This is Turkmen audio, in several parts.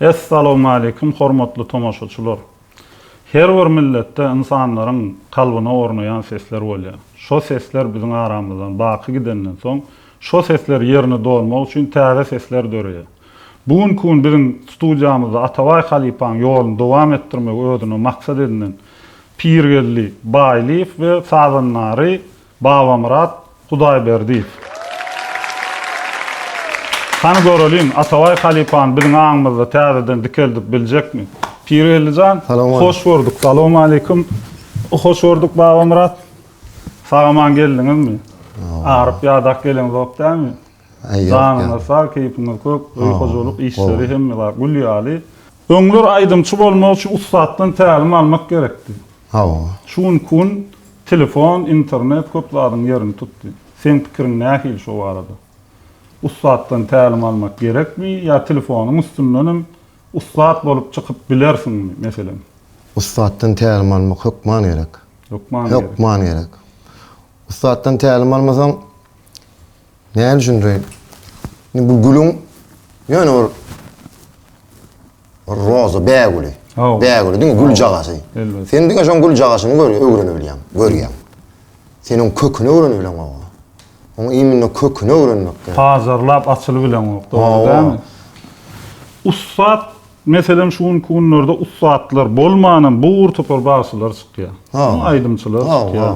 Essalawmaleýkim hormatly tomaşaçylar! Her bir milletde ynsanlaryň kalbyna ornaýan sesler bolýar. Şo sesler biziň aramyzdan baky gidenden soň, şo sesler ýerini dolmak üçin täze sesler döreýär. Bu günki gün biziň studiýamyzda Atabaý halypaň ýoluny dowam etdirmegi özüne maksat edinen Pirgeldi Baýlyýew we sazandary Babamyrat Hudaýberdiýew. Hany göreliň, Atabaý halypany biziň aňymyzda täzeden dikeldip biljekmi? Pirgeldi jan, hoş gördük. Salowmaleýkim. Hoş gördük, Babamyrat. Sag-aman geldiňizmi? Aryp-ýadap geleňzok dälmi? Janyňyz sag, keýpiňiz kök, öý-hojalyk işleri hemme zat gül ýaly. Öňler aýdymçy bolmak üçin ussatdan tälim almak gerekdi. Hawa. Şu günki gün telefon, internet köp zadyň ýerini tutdy. Seň pikiriň nähili şo barada? Ussatdan tälim almak gerekmi ýa telefonyň üstünden hem ussat bolup çykyp bilersiňmi, meselem? Ussatdan tälim almak hökman gerek. Hökman gerek. Hökman gerek. Ussatdan tälim almasaň, Näme üçin reýn? Indi bu gülüň ýöne bir roza bägüli. Bägüli diňe gül jagasy. Sen diňe şoň gül jagasyny gör, öwrenip bilýäň, görýäň. Sen oň köküni öwrenip bileň oňa. Oň iýmini köküni öwrenmek gerek. Pazarlap açylyp bileň ok, dogry dälmi? Ussat Meselem şu günki günlerde ussatlar bolmanam bu gur topar bagşylar çykýar. Aýdymçylar çykýar.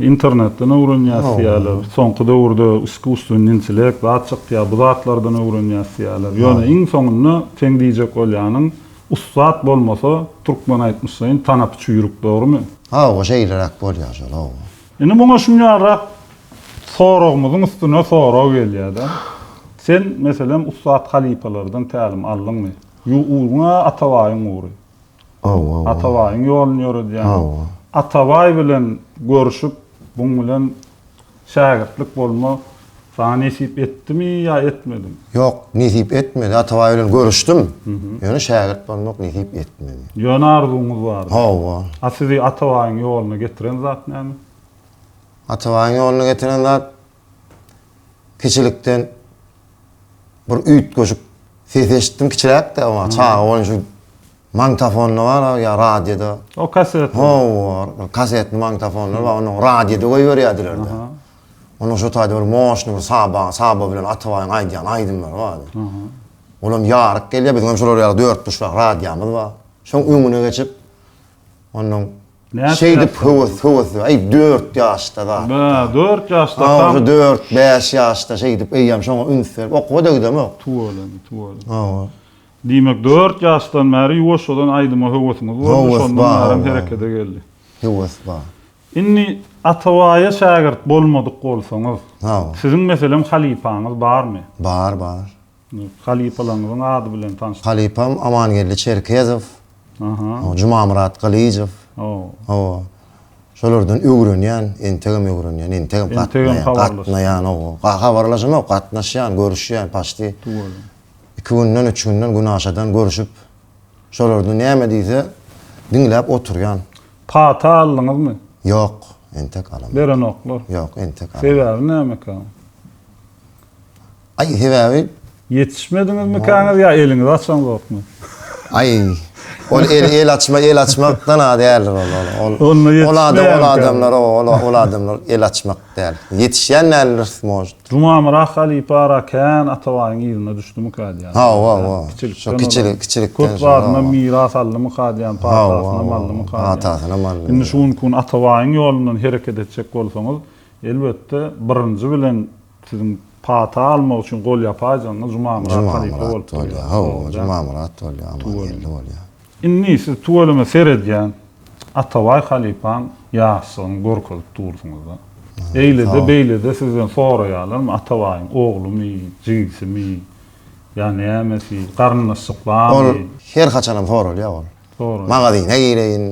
Internetden öwrenýäs diýýärler. Soňky döwürde iskusstweniý intellekt zat çykýar, bu zatlardan öwrenýäs diýýärler. Ýöne iň soňunda seň diýjek bolýanyň ussat bolmasa türkmen aýtmyşlaýyn tanapy çüýrük dogrymy? Hawa şeýleräk bolýar şol hawa. Indi muňa şunýarrak soragymyzyň üstüne sorag gelýärde. Sen meselem ussat halypalardan tälim aldyňmy? Ýuw uruňa atabaýyň ury. Atabaýyň ýoluny ýöredýän. Atabaý bilen görşüp, buň bilen şägirtlik bolma saňa nesip etdimi ýa etmedimi? Ýok, nesip etmedi. Atabaý bilen görüşdim. Ýöne şägirt bolmak nesip etmedi. Ýöne arzuwyňyz bardy. Hawa. A sizi Atabaýyň ýoluna getiren zat näme? Atabaýyň ýoluna getiren zat, kiçilikden bir üýtgeşik ses eşitdim kiçiräkde ama çaga bolan şu magnitofonda bar ya radioda. O kaset. O bar. Kaset magnitofonlar bar. Onu radioda goýberýärdiler. Onu şu taýda bir moşny bir saba, saba bilen atabaýyň aýdýan aýdymlary bar. Olam ýaryk gelýär. Biziň hem şular ýaly dört buşlak radiomyz bar. Şoň öňüne geçip Ondan Şeýdip höwes höwes aý dört ýaşda bar. Bä dört ýaşda tam. Aý dört bäş ýaşda şeýdip eýýäm şoňa üns berip okuwada gidemok. Tuweleme tuweleme. Hawa. Diýmek dört ýaşdan bäri ýuwaşjadan aýdyma höwesiňiz boldy şondan bärem herekede geldi. Höwes bar. Indi Atabaýa şägirt bolmadyk bolsaňyz. Hawa. Siziň meselem halypaňyz barmy? Bar bar. Halypalaryňyzyň ady bilen tanyş. Halypam Amangeldi Çerkezow. Aha. Jumamyrat Gylyjow. Hawa. Hawa. Şolardan öwrenýän, entegem öwrenýän, entegem gatnaýan, gatnaýan, hawa. Habarlaşamok, gatnaşýan, görüşýän paçti. Dogry. Iki günden, üç günden, gün aşadan görüşip, şolardan näme diýse, diňläp oturýan. Pata aldyňyzmy? Ýok, entek alamok. Berenoklar? Ýok, entek alamok. Sebäbi nämekä? Aý sebäbi. Ýetişmediňizmikäňiz ýa eliňizi açaňzokmy? Aý. Ol el el açma el açmakdan a däldir ol ol ol. Onda ýetişmeýär. Ol adam ol adamlar o ol ol adamlar el açmak däl. Ýetişýän däldir možd. Jumamyrat halypa ara kän Atabaýyň yzyna düşdümikä diýýän. Hawa hawa. Şo kiçilik kiçilikden. Köp zadynam miras aldymyka diýýän patasynam aldymyka. Hawa patasynam aldy. Indi şu günki gün Atabaýyň ýolundan hereket etjek bolsaňyz elbetde birinji bilen Siziň pata almak üçin golýapaýjyňyz Jumamyrat halypa bolup durýar. Hawa, Jumamyrat bolýar, Amangeldi bolýar. Indi siz tüweleme seredýän Atabaý halypaň ýaşlygyny görkezip dursuňyz-da. Eýle-de, beýle-de sizden soraýarlarmy, Atabaýyň oglumy, jigisimi ýa nämesi, garyndaşlyklamy? Ol her haçanam soralýar ol. Magazyna gireýin,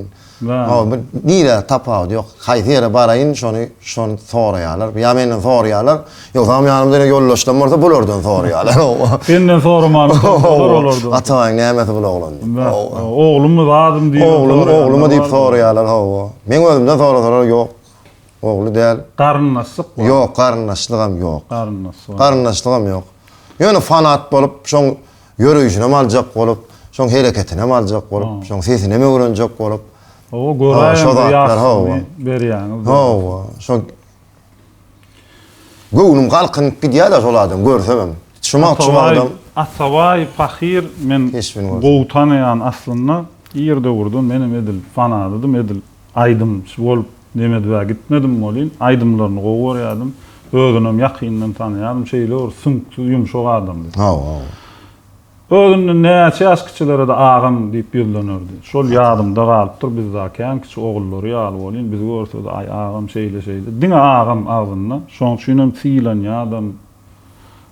nirä tapawudy ýok, haýsy ýere baraýyn şony şony soraýarlar, ýa menden soraýarlar, ýogsam ýanymda ýöne ýoldaşlarym bolsa bulardan soraýarlar. Senden soramanam soralar olardan. Ataýyň nämesi bul oglan diýip. Oglumy zadym diýip soraýarlar. Oglumy oglumy diýip soraýarlar hawa. Meň özümden sorasalar ýok, ogly däl. Garyndaşlyk bar. Ýok garyndaşlygam ýok. Garyndaşlygam ýok. Ýöne fanat bolup şoň. Ýöreýşinem aljak bolup, şoň hereketinem aljak bolup, şoň sesinem öwrenjek bolup. Hawa, göräýeň bir ýaşulyny berýäňiz. Hawa, şo göwnüm galkynyp gidýär-de şol adam görsegem. Şumaçyl adam. Atabaý pahyr men gowy tanaýan aslynda. Ir döwürden menem edil fanadydym, edil. Aýdymçy bolup Nemedwä gitmedim welin, aýdymlaryny gowy görýärdim. Özünem ýakyndan tanaýardym. Şeýle bir süňksüz, ýumşak adamdy. Özünden näçe ýaş kiçilere-de agam diýip ýüzlenerdi. Şol ýadymda galypdyr, biz dagy kän kiçi, ogullary ýaly welin, bizi görse-de, aý, agam, şeýle-şeýle. Diňe agam agzynda. Şoň üçinem sylanýardam.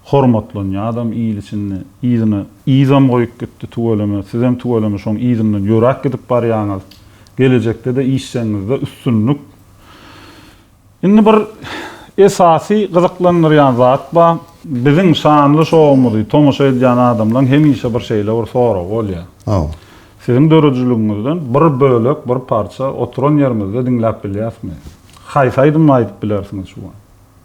Hormatlanýa adam il içinde yzyna yzam goýup gitdi tüweleme sizem tüweleme şoň yzyndan ýöräp gidip barýaňyz gelejekdede işjeňňizde üstünlik Indi bir esasy gyzyklandyrýan zat ba biziň şanly şowumyzy tomaşa edýän adamlaň hemişe bir şeýle bir soragy bolýa siziň döredijiligiňizden bir bölek bir parça oturan ýerimizde diňläp bilýäsmi haýsy aýdymly aýdyp bilersiňiz şu wagt.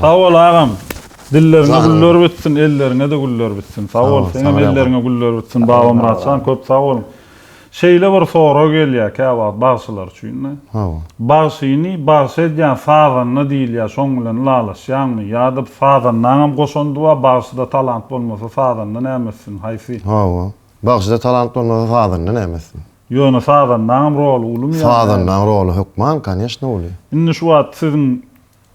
Sag bol agam. Dilleriňe güller bitsin, elleriňe-de güller bitsin. Sag bol, seňem elleriňe güller bitsin, Babamyratjan, köp sag boluň. Şeýle bir sorag gelýär käwagt bagşylar üçin-de. Bagşyny bagşy edýän sazanda diýilýär, şoň bilen ylalaşýaňmy? Ýa-da sazandaňam goşandy bar, bagşyda talant bolmasa sazanda näme etsin, haýsy? Hawa, bagşyda talant bolmasa sazanda näme etsin? Ýöne sazandaňam roly ulumy ýa näme? Sazandaň roly hökman koneşno uly. Indi şu wagt siziň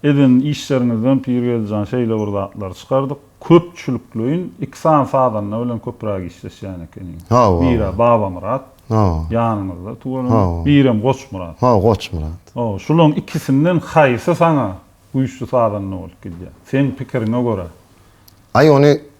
eden işleriňizden Pirgeldijan şeýle bir zatlary çykardyk, köpçülikleýin iki sany sazanda bilen köpräk işleşýän ekeniň. Hawa. Biri Babamyrat. Hawa. Ýanyňyzda tuweleme. Hawa. Birem Goçmyrat. Hawa, Goçmyrat. Hawa, şulaň ikisinden haýsy saňa güýçli sazanda bolup gidýär? Seň pikiriňe görä. Aý ony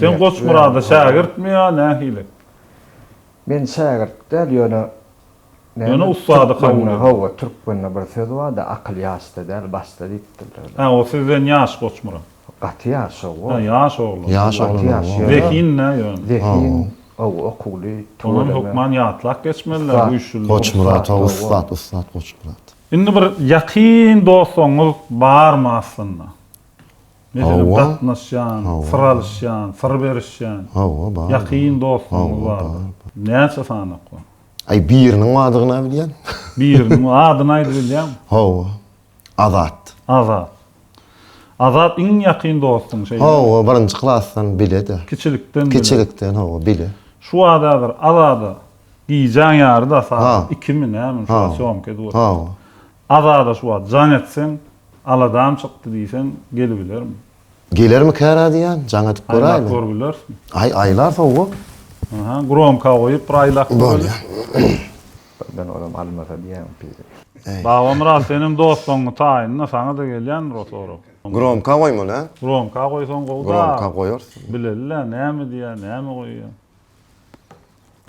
Sen Goçmyrada şägirtmi ýa nähili? Men şägirt däl, ýöne Ýöne ussady kabul et. Hawa, türkmende bir söz bar-da, akyl ýaşda däl, başda diýipdirler. Hä, o sizden ýaş Goçmyrat? Gaty ýaş, hawa. Hä, ýaş oglan. Ýaş oglan, hawa. Zehin-dä ýöne. Zehin, hawa, okuwly, tüweleme. Onam hökman ýatlap geçmeliler bu üşüli. Goçmyrat, hawa, ussat, ussat Goçmyrat. Indi bir ýakyn dostuňyz barmy aslynda? Meselem, gatnaşýan, syr alyşýan, syr berişýän. Hawa, bar. Ýakyn dostlaryňyz bardyr. Näçe sany okon? Aý, biriniň adyny-a bilýän. Biriniň adyny aýdyp bilýäňmi? Hawa. Azat. Azat. Azat iň ýakyn dostuň şeýdemi? Hawa, birinji klasdan bile-de. Kiçilikden bile. Kiçilikden, hawa, bile. Şu wagt häzir Azada gijäň ýary-da sagat ikimi, nämi, şuwagt sýomka edip otyr. Hawa. Azada şu wagt jaň etseň, aladam çykdy diýseň, gelibilerin. Gelermi kära diýýän, jaň edip göräýeli. Aýlap görbilersiň. Aý, aýlar sowgat. Aha, gromka goýup bir aýlap göreli. Bolýar. Birden olam almasa diýýäň piri. Babamyrat seniň dostuňyň taýynda saňa-da gelýändir o sorag. Gromka goýmaly, hä? Gromka goýsaň gowy-da. Gromka goýarsyň. Bileli-le, näme diýýär, näme goýýar.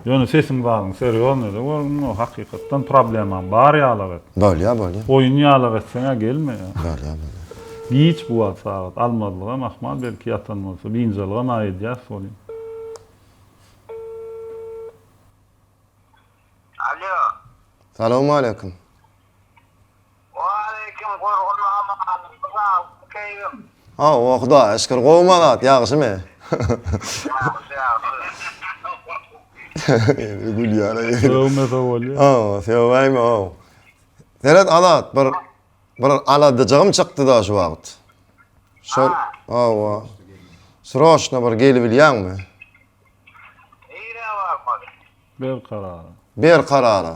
Ýöne sesiň bagyň serýoznada görgin o hakykatdan problemam bar ýalak et. Bolýa bolýa. Oýun ýalak etseňä gelmeýa. Bolýa bolýa. Giç bu wagt sagat almazlygam ahmal belki ýatan bolsa binjalygam a edýäs bolýa. Alýo. Salowmaleýkim. Waleýkim gurgun amanyň sag keýgim. Hawa Hudaýa şükür gowumy Azat ýagşymy. Ýagşy ýagşy. Gülýär aý. Sowmese bolýa. Hawa söwäýme how. Seret Azat bir bir aladajygym çykdyda şu wagt. Şol hawa. Sroçno bir gelibilýäňmi. Nirä barmaly. Berkarara. Berkarara.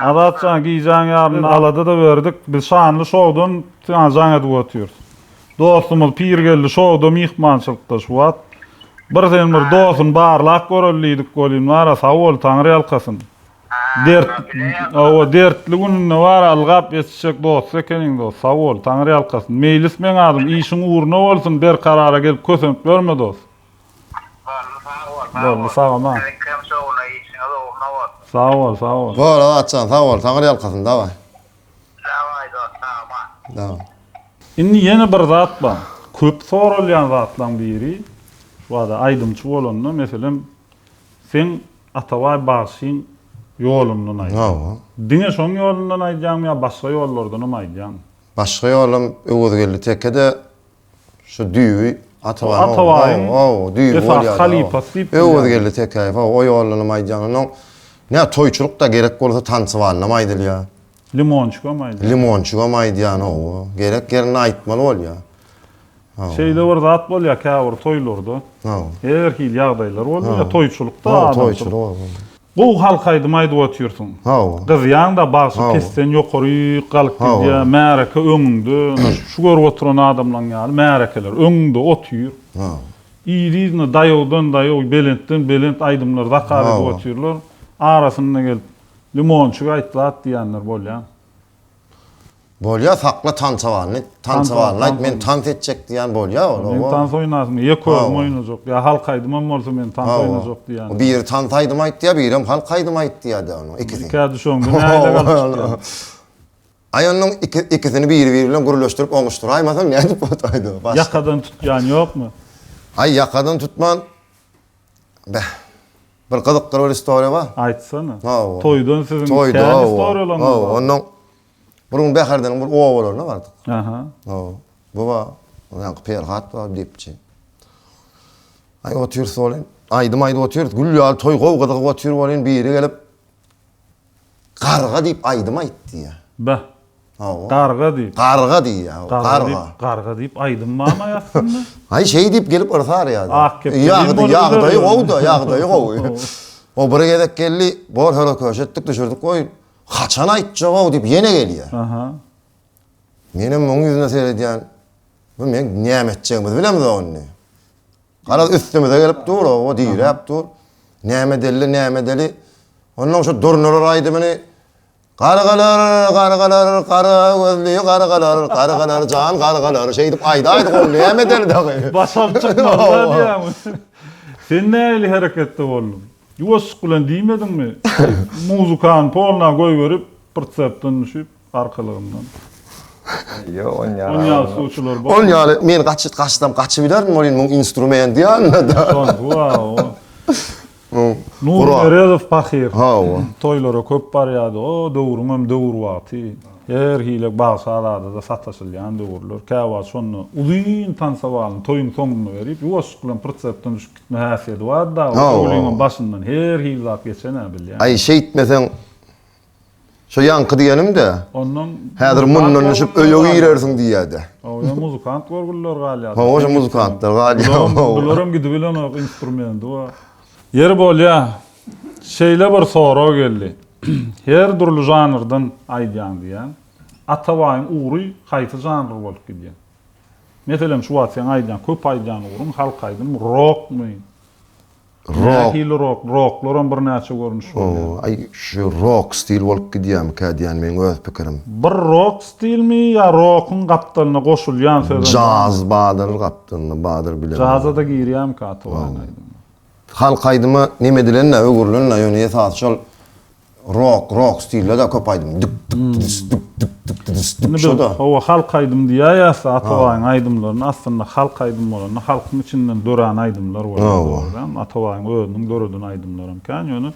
Azat jan gijaň ýaryn alada da berdik biz şanly şowdan siňa jaň edip otyrys dostumyz pirgeldi şowda myhmançylykda şu wagt bir sen bir dosun barlap göreli diýdik welin bara sag bol taňyr ýalkasyn dert owo dertli gününde bara ylgap etişjek dosty ekeniň dost sag bol taňyr ýalkasyn meýlis meň adym işiň ugruna bolsun berkarara gelip kösenip ýörme dost. Boldy sag bol. Boldy sag bol. Berekkem şowuna işiňiz ugruna bolsun. Sag bol sag bol. Bol Azatjan sag bol taňyr ýalkasyn daway. Daway dost sag bol. Daway. Indi ýene bir zat bar. Köp soralýan zatlaň biri bada aýdymçy bolanda meselem seň Atabaý bagşyň ýolundan aýdýaň. Hawa. Diňe şoň ýolundan aýdýaňmy ýa başga ýollardanam aýdýaňmy? Başga ýolum Öwezgeldi tekede Şu düýbi Atabaýyň ogly. Atabaýyň esasy halypasy diýip bilýär. Öwezgeldi Tekäýew, hawa, o ýolunam aýdýan. Onuň nä toýçulykda gerek bolsa tansybalynam aýdylýar. Limonçygam aýdýar. Limonçygam aýdýan, hawa. Gerek ýerinde aýtmaly bolýar. Şeýle bir zat bolýar käbir toýlarda. Hawa. Her hili ýagdaýlar bolýar. Toýçulykda adamçylyk. Gowy halk aýdymy aýdyp otyrsyň. Sag bol. Gyzýaňda bagsy pesden ýokaryk galyp gidýä. Märeke öňüňde şu görüp oturan adamlaň ýaly märekeler öňüňde otyr. Yz-yzyna daýawdan daýaw belentden belent aýdymlar zakaz edip otyrlar. Arasynda gelip Limonçyk aýt zat diýenler bolýa. Bolýa sakla tansawalyny, tansawalyny aýt men tans etjek diýýän bolýa ol. Men tans oýnasym, ýek özüm oýnajak, ýa halk aýdymam bolsa men tans oýnajak diýýän. Biri tans aýdym aýt diýýär, birem halk aýdym aýt diýýär-de onuň ikisi. Ikä düşeň, bu nähili galyp çykýar. Aý onuň ikisini biri-biri bilen gürleşdirip oňuşdyraýmasaň nädip bolaýdy o başda. Ýakadan tutýan ýokmy? Aý ýakadan tutman Beh. Bir gyzykly bir istoriýa bar. Aýtsana. Toýdan siziň kän istoriýalaryňyz bar. Hawa, onnoň bir gün Bäherdeniň bir obalaryna bardyk. Aha. Hawa. Bu bar. Ýaňky Perhat bar, Depçi. Aý otyrys bolýan. Aýdym aýdyp otyrys. Gül ýaly toý gowy gyzygyp otyr bolýan. Biri gelip. Garga diýip aýdym aýt diýýär. Be. Hawa. Garga diýip. Garga diýýär. Garga. Garga diýip, garga diýip aýdym barmy aýaslynda? Aý şeý diýip gelip yrsar ýa-da. Ak kepdeli boluberiýär. Ýagdy, ýagdaýy gowy-da, ýagdaýy gowy. O bir gezek geldi, gor-hörä köşe etdik, düşürdik, goý, haçan aýtjak-ow diýip ýene gelýär. Aha. Menem munuň ýüzüne seredýän, bu meň näme etjegimizi bilemzok indi. Garaz üstümize gelip dur, o diräp dur. Näme deli, näme deli. Ondan şu durnalar aýdymyny Gargalar, gargalar, gara gözli gargalar, gargalar jan gargalar şeýdip aýdaýdy ol näme deli dagy. Basam çykmazlar diýämi. Sen näli hereketde bolduň? Ýuwaşjyk bilen diýmediňmi? Muzykany polna goýberip, pritsepden düşüp. arkalygyndan. Ýo, on ýaly. On ýaly suwçular bar. On ýaly men gaçyt gaçsam gaçyp giderin welin muň instrument ýanynda. Şonda wao. Nur Meredow pahyr. Hawa. Toýlara köp barýardy. O döwrüň hem döwür wagty. Her hili bag sazada-da sataşylýan döwürler. Käwagt şonda uzyn tansawalyny toýuň soňunda berip, ýuwaşjyk bilen pritsepden düşüp gitme häsiýeti bardy dagy. Ol öwlügiň hem başyndan her hili zat geçen-ä bilýän. Aý şeýtmeseň Şo ýaňky diýenim-de, Ondan häzir muzykant mundan düşüp görgüliler öýe galýar. girersiň diýýär-de. Oýa muzykant görgüliler galýar. Hawa, şo muzykantlar galýar. Bularam, Hawa. bularam gidibilenok instrumendi we Ýeri bolýa, şeýle bir sorag geldi. Her dürli žanrdan aýdýaň diýýäň. Atabaýyň ugry haýsy žanr bolup gidýä? Meselem, şu wagt seň aýdýaň, köp aýdýan ugruň halk aýdymmy, rokmy? Nähili rok? Roklaram birnäçe görnüş bolýar. O, aý, şu rok stil bolup gidýärmikä diýýän meň öz pikirim. Bir rok stilmi ýa rokuň gapdalyna goşulýan sözem barmy? Jaz badyr gapdalyna, badyr bilen. Jaza-da girýärmikä Atwine aýdymy? Halk aýdyma nemedilen-dä, öwrülen-dä, ýöne esasy şol Rock, rock stilde de köp aýdym. Dyk dyk dydys, dyk dyk dyk dydys, dyk şo-da. Hawa, halk aýdym diýäýýäs-de, Atabaýyň aýdymlaryny. Aslynda halk aýdym bolanda, halkyň içinden dörän aýdymlar bolýar. Atabaýyň özüniň döreden aýdymlary hem kän. Ýöne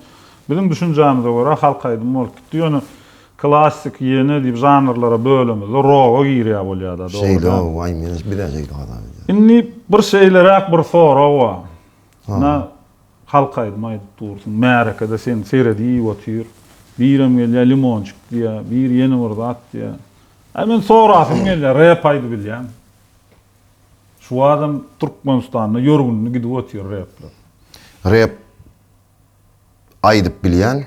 biziň düşünjämize görä halk aýdymy bolup gitdi. Ýöne klassik, ýene diýip žanrlara bölemizde roga girýär bolýar-da, dogry dälmi? Şeýle, oý, men-ä şeýle hasap edýärin. Indi bir şeýleräk bir sorag bar. Ina, Halk aýdym aýdyp dursuň märekede seni seredip otyr. Birem gelýär limonçik diýýä, biri ýene bir zat diýýä. Aý men sorasym gelýär rep aýdybilýäňmi? Şu badam Türkmenistanda ýörgünli gidip otyr repler. Rep aýdyp bilýän.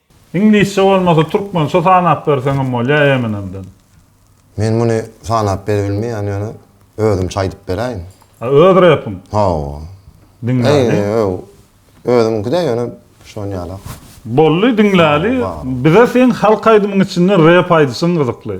Iňlisçe bolmasa türkmençe sanap berseňem bolýa Eminemden. Men muny sanap beribilmeýän ýöne özümçe aýdyp beräýin. A öz repiň? Hawa. Diňläli. Özümkide ýöne şonýalak. Boldy diňläli. Bize seň halk aýdymyň içinden rep aýdyşyň gyzykly.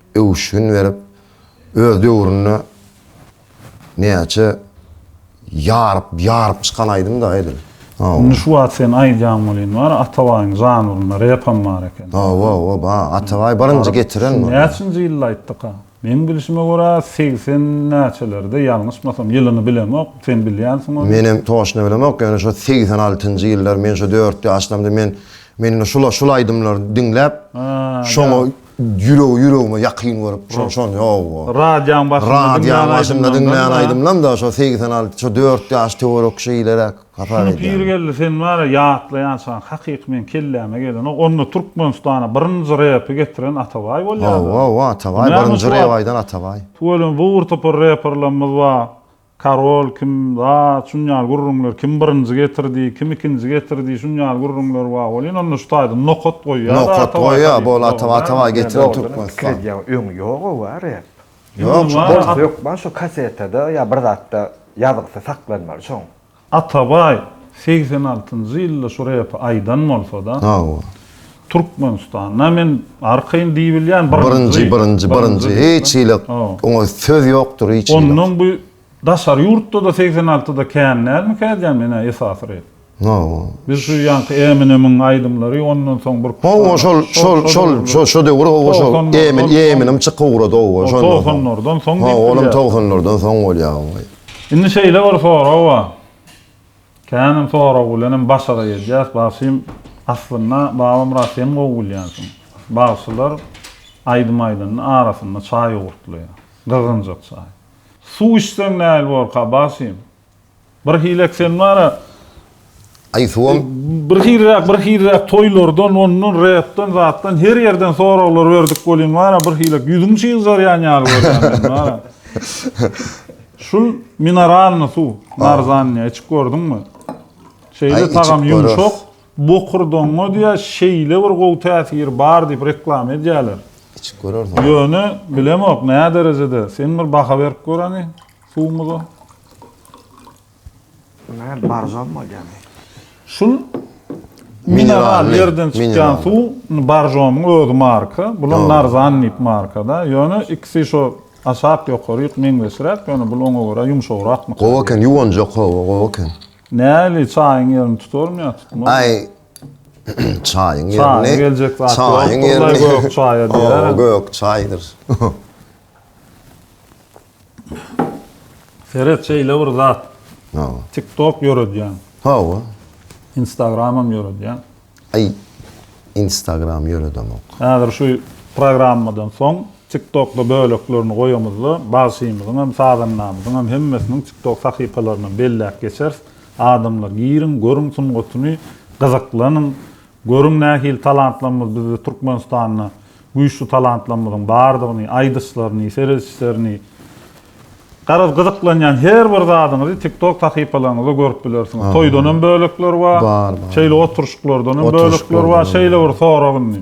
öwüşgin berip, öz döwründe näçe ýaryp, ýaryp çykan aýdym-da edil. Indi şu wagt sen aýdýan welin bar, Atabaýyň žanrynda repem bar eken. Hawa-hawa bar, Atabaý birinji getiren muny. Näçinji ýylda aýtdyka? Meň bilşime görä segsen näçelerde, ýalňyşmasam, ýylyny bilemok, sen bilýänsiň ony. Menem toçna bilemok, ýöne şo segsen altynjy ýyllar, men şo dört ýaşlamda men, men indi şul, şul aýdymlary diňläp, şoňa Ýüregi ýüregime ýakyn görüp şo şony ýok o. Radýaň başynda diňlän aýdymlardan-da. Radýaň başynda diňlän aýdymdan-da şo segsen alty şo dört ýaş töwerek şeýleräk hasap edýän. Şuny Pirgeldi sen bar-a ýatlaýançaň hakyky meň kelläme gelenok onda Türkmenistana birinji repi getiren Atabaý bolýa-da. Hawa-hawa Atabaý birinji rep aýdan Atabaý. Tüweleme bu bir topar reperlerimiz bar Karol kim, zat, şun ýaly gürrüňler, kim birinji getirdi, kim ikinji getirdi, şun ýaly gürrüňler bar welin, onda şu taýdan nokat goýýar-da Atabaý Nokat goýýar, bu ol Atabaý, Atabaý getiren Türkmenistan. Dogrudan hem pikir edýäň, öňi ýog-ow bar rep. Ýok, şol. Hökman şo kasetada ýa bir zatda ýazgysy saklanmaly şoň. Atabaý segsen altynjy ýylda şu repi aýdan bolsada Hawa. Türkmenistanda men arkaýyn diýibilýän birinji. Birinji birinji birinji hiç hili oňa söz ýokdur hiç hili. Ondan bu daşary ýurtda-da segsen altyda kän dälmikä edýän menä esasy rep. Hawa. Biz şu ýaňky Eminemiň aýdymlary ondan soň bir. Hawa şol şol şol şo şo döwür hawa şol Emin Eminem çykyp ugrady hawa şonda. Togsanlardan soň diýip bilýär. Hawa olam togsanlardan soň bolýar hawa. Indi şeýle bir sorag bar. Känem sorag bilenem başara gelýäs, bagşym. Aslynda, Babamyrat sen gowy bilýänsiň. Bagşylar aýdym aýdanda arasynda çaý ugurtlaýar. Gyzgynjak çaý. Suw içseň näl borka, bagşym? Birhili eksen bar-a. Aý suwam. Birhiliräk birhiliräk toýlardan ondan repden zatdan her ýerden soraglar berdik welin wara birhiliräk ýüzüň çyzarýan ýaly görýän wara. Şul mineralny suw narzannyýa içip gördüňmi? Şeýle tagam ýumşak bokurdaňa diýä şeýle bir gowy täsiri bar diýip reklama edýäler. Içip görersiň. Ýöne bilemok näderejede sen bir baha berip gör hany suwumyza. Bu näme baržam bolýamy? Şul mineral ýerden çykýan suw baržamyň özi marka. Bular narzan diýip markada. Ýöne ikisi şo aşak ýokaryk meňzeşräk, ýöne bul oňa görä ýumşagrak. Gowy eken, ýuwanjak howa, gowy eken. Näli çaýyň ýerini tutarmy ýa tutmazmy? Aý çaýyň ýerini. Çaý geljek zat ýok. Gök çaýa diýer. Gök çaýdyr. Seret şeýle bir zat. Hawa. TikTok ýöredýän. Hawa. Instagramam ýöredýän. Aý. Instagram ýöredemok. Häzir şu programmadan soň TikTokda böleklerini goýamyzda, bagşymyzyň hem, sazandamyzyň hem hemmesiniň TikTok sahypalaryndan belläp geçeris. Adamlar giriň, görüň sungatyny, gyzyklanyň. Görüň nähili talantlarymyz bizde Türkmenistanda güýçli talantlarymyzyň bardygyny aýdyşlaryny seredişlerini garaz gyzyklanýan her bir zadyňyzy tiktok sahypalaryňyzda görüp bilersiňiz toýdanam bölekler bar şeýle oturyşyklardanam bölekler bar şeýle bir sorag indi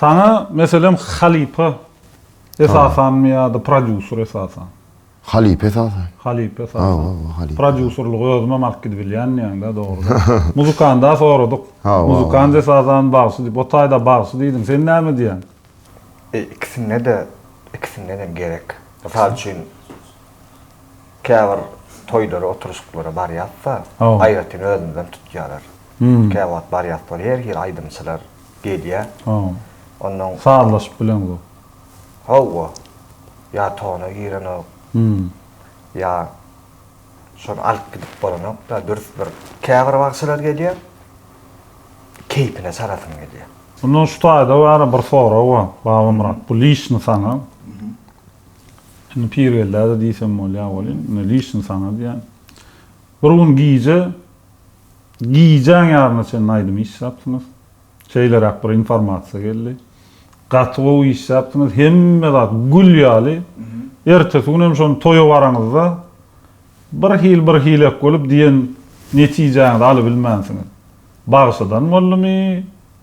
Saňa meselem halypa esasanmy ýa-da prodýuser esasan? Halypa esasan. Halypa esasan. Hawa, hawa, halypa. Prodýuserligi özümem alyp gidibilýän diýýäň-dä, dogry. Muzykanda soradyk. Hawa. Muzykant esasan bagşy diýip, o taýda bagşy diýdim. Sen näme diýýäň? Ikisinde-de, ikisinden-dem gerek. Mysal üçin, käbir toýlara, oturyşyklara barýas-da, aýratyn özümizden tutýarlar. Käwagt barýas bor her hili aýdymçylar gelýä. Ondan sazlaşyp bileňok. Hawa. Ýa tona girenok. Ýa şony alyp gidip bolanokda dürs bir käbir bagşylar gelýä. Keýpine çalasym gelýä. Mundan şu taýda bara bir sorag bar Babamyrat bu lişni saňa. Indi Pirgeldä-de diýsem bolýa welin, indi lişni saňa diýýän. Bir gün gije Gijäň ýaryna çenli aýdym işläpsiňiz. Şeýleräk bir informasiýa geldi. Gaty gowy işläpsiňiz. Hemme zat gül ýaly. Ertesi gün hem şony toýa baraňyzda bir hil bir hilek bolup diýen netijäňizi alybilmänsiňiz. Bagşydan boldumy?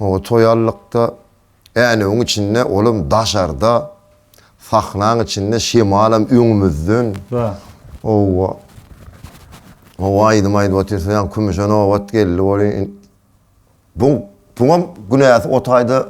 Oba toýarlykda, änewiň içinde, olam daşarda, sahnaň içinde, şemalam öňümizden. Bar. Oba. Oba aýdym aýdyp otyrsyň, ýa kümüşe nobat geldi welin, bu, buňam günäsi o taýda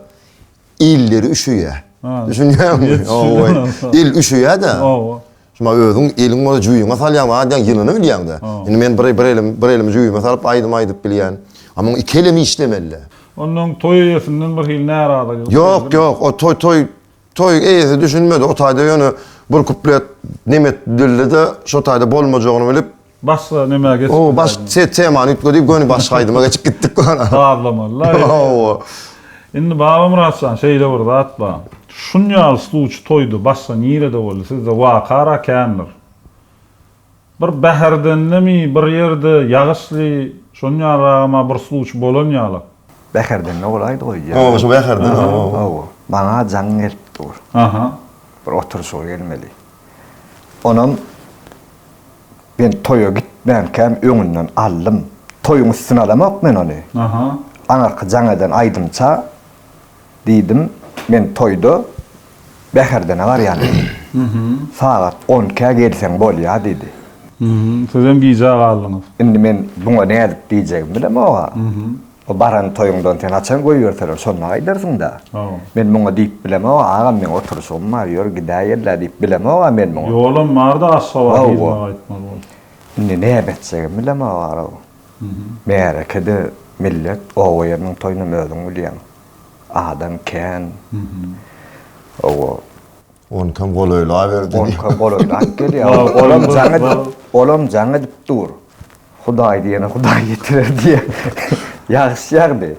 Illeri üşüýär. Düşünýäňmi? Owa. Il üşüýär-de. Owa. Şuma özüň eliň bola jüýüňe salýaň wah diýen ýylyny bilýäň-de. Indi men bir bir elim, bir elimi jüýüme salyp aýdym aýdyp bilýän. A muň iki elem işlemeli. Onnoň toý eýesinden bir hili närazylyk. Ýok, ýok, o toý, toý, toý eýesi düşünmedi. O taýda ýöne bir kuplet nemes dilli-de, şo taýda bolmajagyny bilip. Başga nämä geçip bilerin? O baş se temany üýtgedik göni başga aýdyma geçip gitdik gona. Sazlamaly-la. Hawa. Indi Babamyrat jan şeýle bir zat bar. Şunýaly sluçy toýda başga nirede boldy sizde waka-ra kändir. Bir Bäherdenlemi bir ýerde ýagyşly şonýalyragam-a bir sluçy bolan ýaly. Bäherdende bolaýdy goý ýa. Hawa şu Bäherden hawa. Hawa. Maňa jaň gelip dur. Aha. Bir oturyşyga gelmeli. Onam Men toýa gitmänkäm öňünden aldym. Toýuň üstüni alamok men ony. Aňyrky jaň eden aýdymça diýdim, Men toýda Bäherdene barýan diýdim. Sagat on ikä gelseň bolýa diýdi. Sizem gijä galdyňyz. Indi men buňa nädip diýjegimi bilemog-a. O baran toýuňdan seni haçan goýberseler, şonda gaýdarsyň-da. Men muňa diýip bilemog-a, agam, meň oturyşygym bar, ýör, gidäýerlä diýip bilemog-a men muňa. Ýolam bar-da, Aşgabat yzyna gaýtmaly boldum. Indi näme etjegimi bilemog-a-ow. Märeke-de millet, oba-ýeriniň toýunam özüň bilýäň. Adam kän. Ow-ow. Oňkam golaýlaberdi. Oňkam golaýlap gelýär. Olam jaň edip, olam jaň edip dur. Hudaý diýene Hudaý ýetirer diýýär. Ýagyş ýagdy.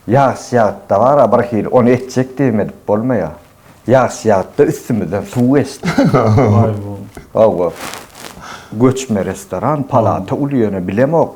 Ýagyş ýagytda bar-a bir hili, ony etjek diýip edip bolmaýar. Ýagyş ýagytda üstümizden suw geçdi. Hawa, göçme restoran, palata uly ýöne bilemok.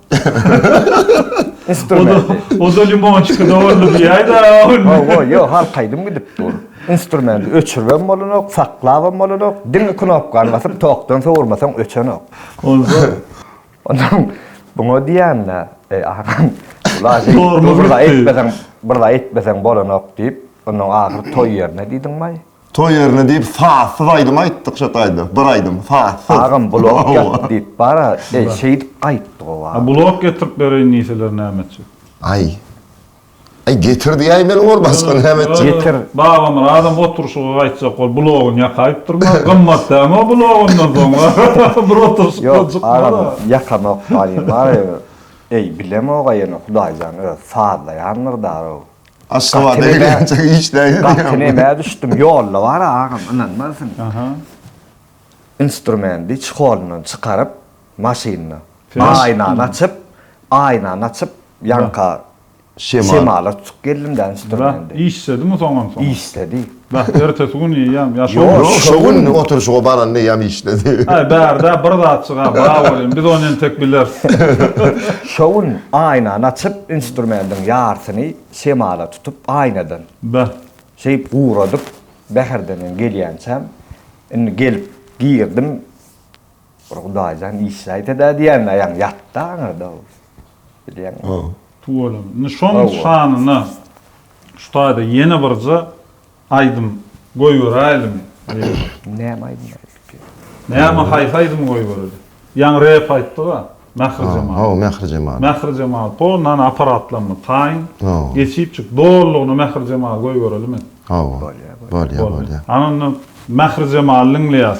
Instrument. Oda limonçyka dogurly diýäýdä. Owa, ýok, halkaýdym gidip dur. Instrumenti öçüribem bolanok, saklabam bolanok, diňe knopkany basyp tokdan sowurmasaň öçenok. Onsoň, onsoň buňa diýäýmdä, eý agam, ilaç aýtmasaň, bir zat aýtmasaň bolanok diýip, onsoň ahyry toý ýerine diýdim, aý. Toý ýerine diýip sazsyz aýdym aýtdyk şo taýda. Bir aýdym sazsyz. Agam blok ýat diýip bara şeýdip gaýtdyk o wagt. Blok getirip bereýin diýseler näme etjek. Aý. Aý getir diýäý meni ol başga näme etjek. Getir. Babamyradam oturşyga gaýtjak bol blogyny ýakaýyp durma. Gymmat dämi o blok ondan soň. Bir oturşykdan çykma-da. Ýok agam ýakanok gaýym. Eý bilemok-a ýene hudaýjan öz sazlaýandyr-da o. Aşgabada gelençe iş däýdi. Gatyneme düşdüm, ýolda bar agam, ynanmarsyň. Instrumendi çekolyndan çykaryp, maşynda. Aýnany açyp, aýnany açyp, ýanka şemala tutup geldim-de instrumendi. Işledimi soňam soň? Işledi. Bäh, ertesi gün iýýäm, ýa şo günmi? Ýok, şo gün oturyşyga baranda eýýäm işdedi. Aý, bärde bir zatjyga bar boluň, biz ony entek bileris. Şo gün aýnany açyp, instrumendiň ýarsyny şemala tutup, aýnadan. Bäh. Şeýip guradyp, Bäherden gelýänçäm, indi gelip girdim, Bir Hudaýjan işi aýda-da diýýän aýaň ýat-da aňyrda ol. Bilýäňmi? Hawa. Tuweleme. Indi şoň şanyna şu taýda ýene birje aýdym goýberäýlimi? Näme aýdym aýdyp ýör? Näme haýsy aýdymy goýbereli? Ýaňy rep aýtdyg-a. Mähri-jemal. Hawa, Mähri-jemal. Mähri-jemal, to, nana aparatlaryny taýyň. Hawa. Geçip çyk, dolulygyna Mähri-jemaly goýberelimi? Hawa. Bolýar, bolýar. Bolýar, bolýar. Ana onda Mähri-jemaly diňleýäs.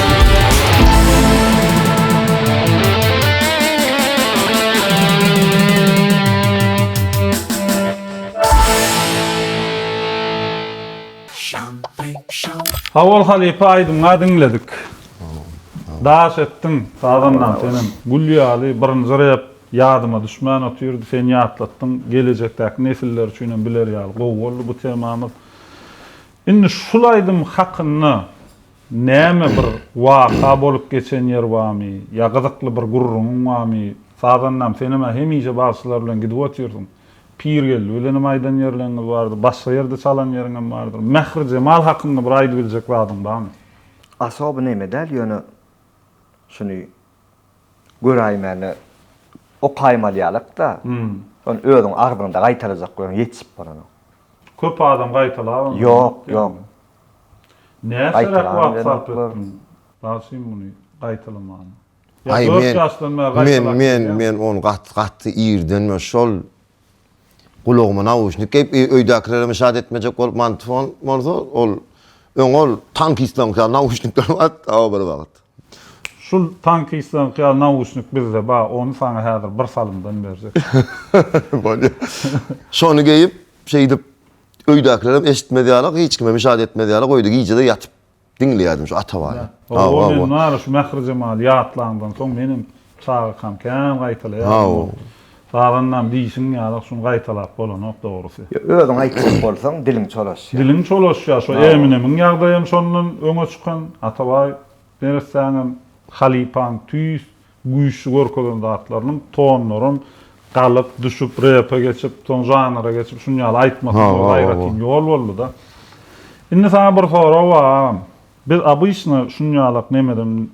Hawol halypa aýdymňa diňledik. Daş etdiň sazandan senem. Gül ýaly birinji rep ýadyma düşmän otyrdy. Sen ýatlatdyň. Gelejekdäki nesiller üçin hem biler ýaly gowy boldy bu temamyz. Indi şul aýdym hakynda Näme bir waka bolup geçen ýer bamy, ýa gyzykly bir gürrüňiň bamy? Sazandam senem-ä hemişe bagşylar bilen gidip otyrsyň. Pirgeldi bilenem aýdan ýerleriňiz bardyr, başga ýerde çalan ýeriňem bardyr. Mähri jemal hakynda bir aýdy biljek zadyň bamy? Asoby neme däl ýöne şuny göräýmäne okaýmalýalak-da, şony özüň agzyňda gaýtalajak bolsaň ýetişip bolanok. Köp adam gaýtalabam. Ýok, ýok. Näçeräk wagt sarp etdiň bagşym muny gaýtalamana. Ýa dört ýaşdan bäri gaýtalap gelýäňmi? Men ony gaty gaty irden men şol gulagyma nauşnik geýip öýdäkilerem şat etmejek bolup mantfon bolsa ol öň ol tankistlerňki ýaly nauşnikler bardy aw bir wagt. Şul tankistlerňki ýaly nauşnik bizde bar ony saňa häzir bir salymdan berjek. Bolýar. Şony geýip şeýdip Öýdäkilerem eşitmez ýala, hiç kime müşaýat etmez ýala goýdy. Gije-de ýatyp diňleýärdim şu Atabany. Hawa, men bary şu Mähri Jemaly ýatlanyňdan soň menem çagakam kän gaýtalaýardym. Sazandam diýşiň ýaly şuny gaýtalap bolanok dogrusy. Özüň aýtjak bolsaň diliň çolaşýar. Diliň çolaşýar. Şo Eminemiň ýagdaýam şondan öňe çykan. Atabaý neressäňem halypaň tüýs güýçli görkezen zatlarynyň tonlaryň galyp, düşüp, repe geçip, soň žanra geçip, şuny ýaly aýtmasy bu aýratyn ýol boldy-da. Indi saňa bir sorag bar agam. Biz obyçny şuny ýalak nemeden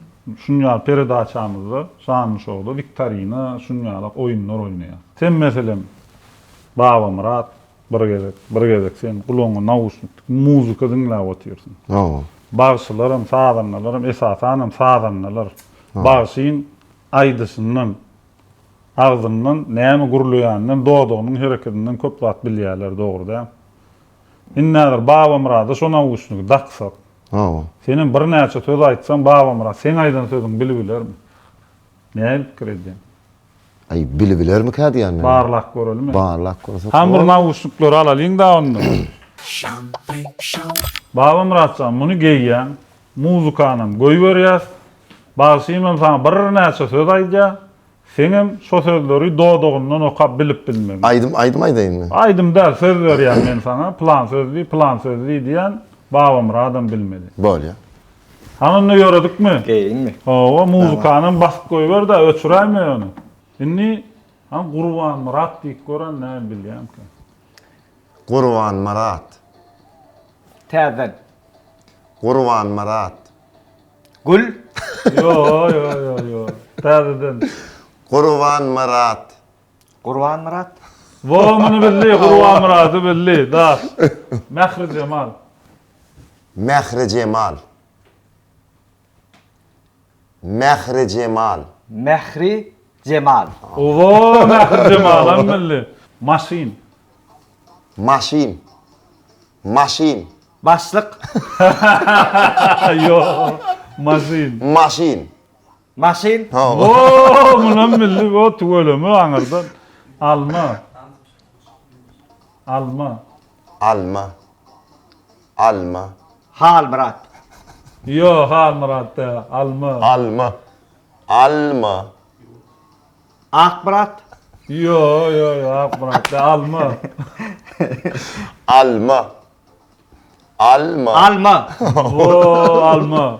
şuny ýaly peredaçamyzda, şanly şowda wiktorina, şuny ýalak oýunlar oýnaýarys. Sen meselem Babamyrat, Bir gezek, bir gezek sen gulagyňa nauşnikli muzika diňläp otyrsyň. Hawa. Bagşylar hem, sazandalar hem, esasan hem sazandalar bagşyň aýdyşyndan, agzyndan näme gürleýäninden, dodagynyň hereketinden köp zat bilýärler, dogry däl? Indi häzir Babamyrada şo nauşnigi daksak. Hawa. Sen hem birnäçe söz aýtsaň Babamyrat seň aýdan sözüňi bilip bilermi? Nähili pikir edýäň? Aý, bilibilermikä diýýän men. Barlap göreliň. Barlap görsek. Hany bir nauşniklary alalyň-da onda. Babamyrat jan, muny geýýäň, muzykanam goýberýäs, bagşymam saňa birnäçe söz aýdýar, seňem şo sözleri dodagyndan okap bilip bilmegin. Aýdym, aýdym aýdaýynmy? Aýdym däl, söz berýän men saňa, plan söz diý, plan söz diý diýän, Babamyradam bilmeli. Bolýar. Hany indi ýöredikmi? Geýinmi? Hawa, muzykanam basyp goýber-dä, öçüräýme ony. Indi, hany Gurbanmyrat diýip gören näme bilýäňkä? Gurbanmyrat. Täzeden. Gurbanmyrat. Gül. Ýo, ýo, ýo, ýo. Täzeden. Gurbanmyrat. Gurbanmyrat. Wo muny bildi Gurbanmyrady bildi daş. Mährijemal. Mährijemal. Mährijemal. Mähri Jemal. Wo Mährijemalam bildi. Maşyn. Maşyn. Maşyn. Başlyk. Ýok. Maşyn. Maşyn. Maşyn. Wo munam bildi wo tüweleme aňyrdan. Alma. Alma. Alma. Alma. Halmyrat. Ýo Halmyrat da Alma. Alma. Alma. Akmyrat. Ýo ýo ýo Akmyrat da Alma. Alma. Alma. Alma. Wo Alma.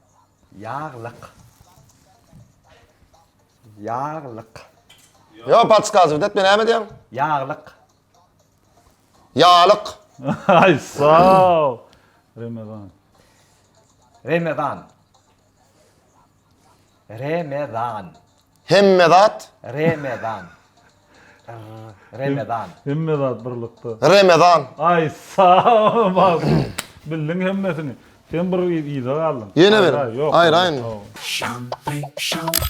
Ýaglyk. Ýaglyk. Ýok, podskazywt etme, näme diýýäň? Ýaglyk. Ýalyk. Aý, sag. Remezan. Remezan. Remezan. Hemme zat. Remezan. Remezan. Hemme zat birlikde. Remezan. Ay sağ ol. Bildiň hemmesini. Sen bir yza galdyň. Yene bir. Ayr ayr. Şampay şampay.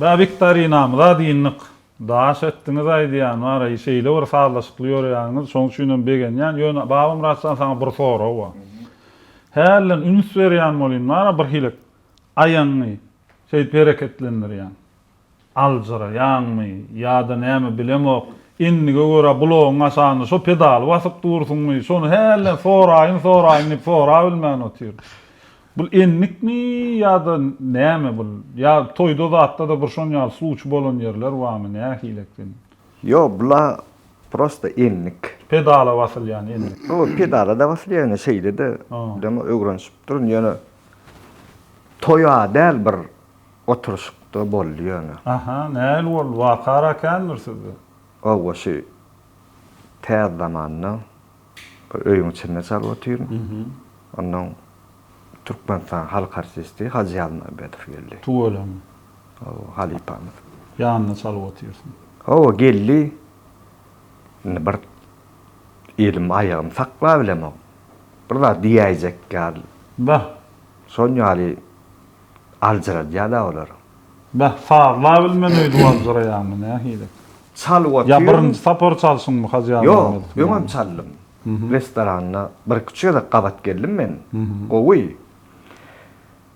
Bä wiktorinamyza dyndyk. Daş etdiňiz aýdýan bara şeýle bir sazlaşykly ýörýäňiz şoň üçinem begenýän ýöne Babamyratjan saňa bir sorag bar hälden üns berýän bolýyn bara birhili aýagyňy şeýdip hereketlendirýäň. Aljyraýaňmy ýa-da näme bilemok, endige görä bulagyň aşagynda şo pedaly basyp dursuňmy, şony hälden soraýyn-soraýyn diýip sorabilmän otyr. Bul endikmi ýa-da näme bul? Ýa toýda zatda-da bir şon ýaly sluçy bolan ýerler barmy, nähili eken? Ýok, bula prosta endik. Pedala basylýan endik. Hawa, pedala-da basylýar, ýöne şeýle-de, diýdem, öwrenişip durun, ýöne toýa däl bir Oturyşykda boldy ýöne. Aha, nähili boldy? Waka ara kändir sizde? Hawa, şu täz zamanda bir öýüň içinde çalyp otyryn. Ondan Türkmenistanyň halk artisti Hajy Ýazmambedow geldi. Tüweleme. Hawa, halypamyz. Ýanynda çalyp otyrsyň. Hawa, geldi. Indi bir elim, aýagym saklabilemok. Bir zat diýäýjek ýaly. Bah! Şon ýaly. aljyradýa-da olar. Beh, sazla bilmen öýdüp aljyraýaňmy, nähili? Çalyp otyryn. Ýa birinji sapar çalşyňmy, Hajy Ýazmyradow? Ýok, öňem çaldym. Restoranda birküç gezek gabat geldim men. Gowy.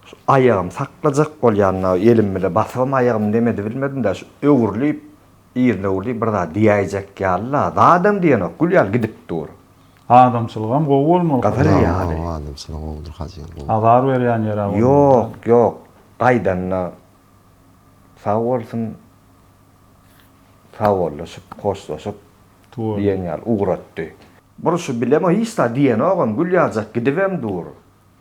Şu aýagym saklajak bolýan-da, elim bile basybam aýagym nemedi bilmedim-dä, şu öwrülip, yzyna öwrülip bir zat diýäýjek ýaly-la, zadam diýenok, gül ýaly gidip dur. Adamçylygam gowy bolmaly Hajy. Gadyr ýaly. Hawa adamçylygy gowudyr Hajyň gowy. Azar berýän ýeri bolmanda. Ýok ýok gaýdanda sag bolsun sagbollaşyp hoşlaşyp diýen ýaly ugratdy. Buruş bilem hiç zat diýenogam gül ýazjak gidibem dur.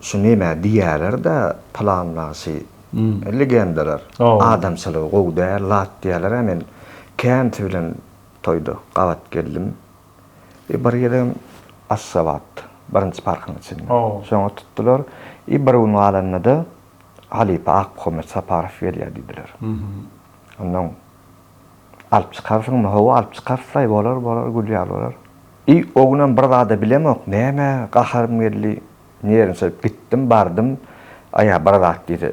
Şu neme diýýäler-de pylan bagşy legendalar adamçylygy gowy däl zat diýýäler-ä men känsi bilen toýda gabat geldim i bir gezegem Aşgabat birinji parkyň içinde şoňa tutdular i bir gün galanda-da halypa Akmuhammet Saparow gelýär diýdiler ondan Alyp çykarsyňmy? Hawa, alyp çykarsaý, bolar, bolar, gül ýaly bolar. I, o günem bir zad-a bilemok, nämä gaharym geldi, nerwnsirip gitdim, bardym, aýa bir zat diýse,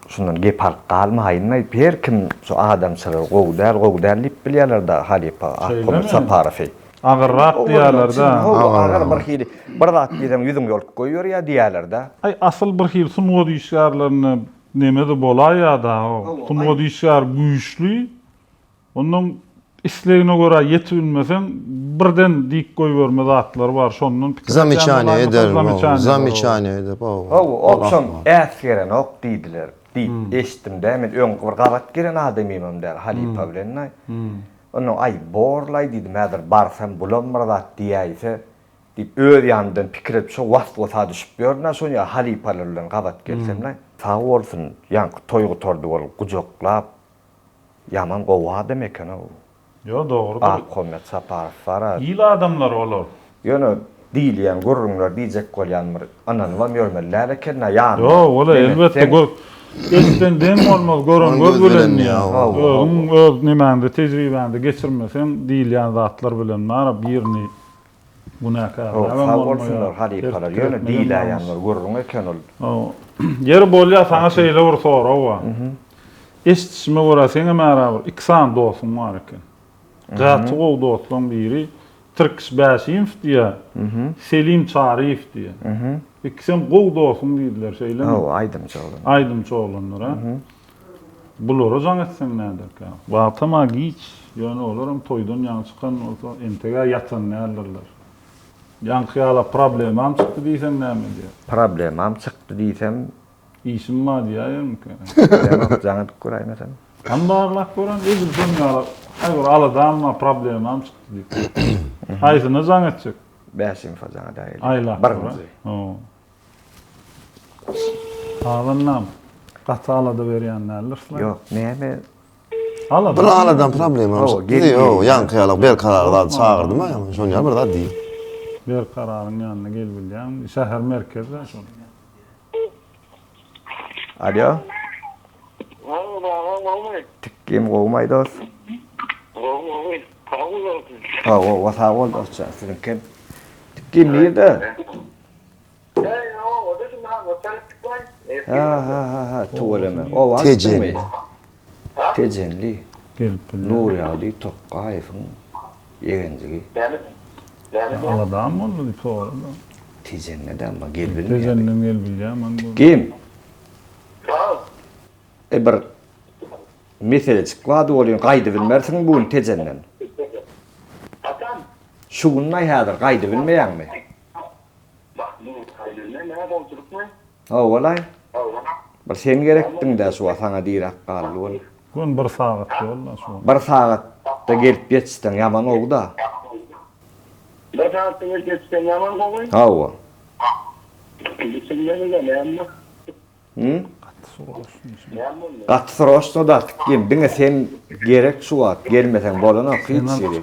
şundan gep alyp galmaýynlaý, her kim şu adamçylygy gowy däl, gowy däl diýip bilýärler-de halypa Ahkon Saparowy. Agyrrak diýýärler-dä. Hawa, agyr bir hili, bir zat diýseň ýüzüň ýolup goýberýär diýýärler-dä. Aý, asyl bir hili sungat işgärlerine Nemede bolaý ýa-da Sungat işgäri güýçli, ondan islegine görä ýetip bilmeseň birden diýip goýberme zatlary bar, şondan pikir edýän Zamyçaniýa ederin, hawa, zamyçaniýa ederin, hawa. Hawa, ol soň äs gerenok diýdiler diýip eşitdim-dä, men öň bir gabat gelen adamymam däl, halypa bilen-de. Ondan, aý, bor-laý diýdim, häzir barsam bulam bir zat diýäýse, Diýip, öz ýanymdan pikir edip, şo was-wasa düşüp ýörün-ä şony ýa halypalar bilen gabat gelsem-le. Sag bolsun, ýaňky toý gutardy ol gujaklap, ýaman gowy adam eken-ow. Ýo, dogrudyr. Ahmet Saparow bar-a. Il adamlary olar. Ýöne diýilýän gürrüňler diýjek bolýan bir ynanybam ýörmeli däl eken-ä, ýanyma Ýo, ol-a elbetde gör, eşiden deň bolmaz, gören göz bilen diýýär. Hawa. Özüň öz nemäňde, tejribäňde geçirmeseň diýilýän zatlar bilen bar-a, birini Günäkärler hem bolmaýar. Sag bolsunlar halypalar. Ýöne diýiläýenler gürrüň eken ol. Ýeri bolýa saňa şeýle bir sorag bar. Eşdişime görä seňem ära bir iki sany dostuň bar eken. Gaty gowy dostlaň biri Tirkiş Bäşimow diýä, Selim Çaryýew diýä. Ikisem gowy dostuň diýdiler şeýlemi? Hawa aýdymçy oglanlar. Aýdymçy oglanlar a. Bulara jaň etseň näderkä? Wagtam-a giç, ýöne olaram toýdan ýaňy çykan bolsa, entek-ä ýatan däldirler. Ýaňky ýala problemam çykdy diýseň näme edýär? Problemam çykdy diýsem. Işim bar diýäýermikä? Diýemok, jaň edip göräýmesem. Hany barlap göräý, edil şonuň ýaly aý bir aladam bar, problemam çykdy diýip. Haýsyna jaň etjek? Bäş info jaň edäýeli. Aýlap göräý. Birinji. Agam, gaty alada berýän däldirsle? Ýok, näme? Alada. Bir aladan problema. Hawa, gel. Ýok, ýaňky ýaly berkarar zat çagyrdyma, şoň ýaly bir zat diý. Berkararyň ýanyna gel bilýäňmi? Şäher merkezi-dä şol. Alýo. Howwa, agam, gowmy? Tikgim gowmy, dost? Gowy, gowy. Sag bol, dostum. Sag bol, sag bol, dostjan. Siziňkem. Tikgim nirde? Heý oba düşün haňňa çyryp çykmaý. Hahahaha tüweleme oba düşdüňmi. Tejenli. Nurýagdy Tokgaýewiň ýegenjigi. Näme aladam boldy diýip sorady. Tejende de amma gel bilmeýär. Tejenden gel bilýär man bu. Kim? Salam. E bir meselejik bardy welin gaýdybilmersiň bu gün Tejenden. Haçan? Şu günlaý häzir gaýdybilmeýäňmi? Howalaý. Bir sen gerekdiň-dä şu wagt, saňa diräp galdy ol. Gün bir sagat ýol-da şu. Bir sagatda gelip ýetişseň ýaman gowy-da. Bir sagatda gelip ýetişseň ýaman gowy. Hawa. Hum? Gaty sroçno şu. Gaty sroçno dartyk diýen, diňe sen gerek şu wagt, gelmeseň bolanok hiç ýeri.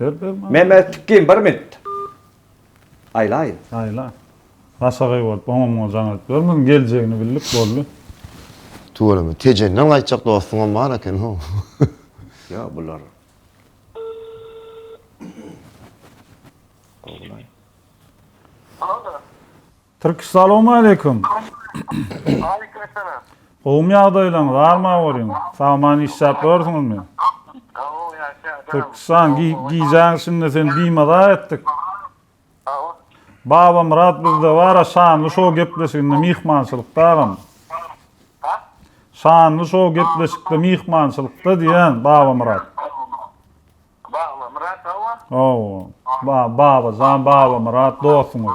Ber ber maňa. Mehmet Tükgin bir minut. Aýlaýyn. Aýla. Başagaý bolup oňa muňa jaň edip durmagyn geljegini bildik boldy. Tüweleme Tejenden gaýtjak dostuňam bar eken how. Ýa bular. Gowulaý. Alo. Türk salawmaleýkum. Aleýkum essalam. Gowmy ýagdaýlaryň, bar ma olyň? Sagaman işläp ýörsüňizmi? Gowy ýaşaýan. Türkistan gijäň şindi sen bimaza etdik. Babamyrat bizde bara şanly şow gepleşiginde myhmançylykda agam. Şanly şow gepleşikde myhmançylykda diýýän Babamyrat. Babamyrat hawa. Hawa. Ba, Babajan Babamyrat dostuňyz.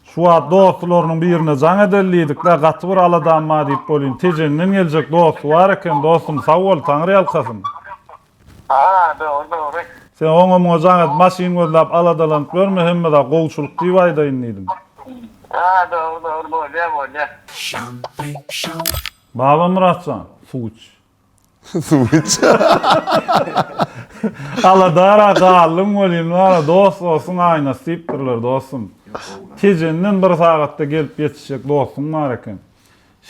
Şu wagt dostularynyň birine jaň edeli diýdik-de, gaty bir aladam bar diýip bolýn. Tejenden geljek dosty bar eken, dostum, sag bol, Taňryýalkasyn. Haa, dogry, dogry. Sen oňa-muňa jaň edip, maşyn gözläp aladalanyp ýörme, hemme zat gowuçylyk diýip aýdaýyn diýdim. Haa, dogry, dogry, bolýar, bolýar. Babamyrat jan, suw iç. Suw iç. Aladara galdym welin wara dost dostun aýnasy diýipdirler dostum. Tejenden bir sagatda gelip ýetişjek dostuň bar eken.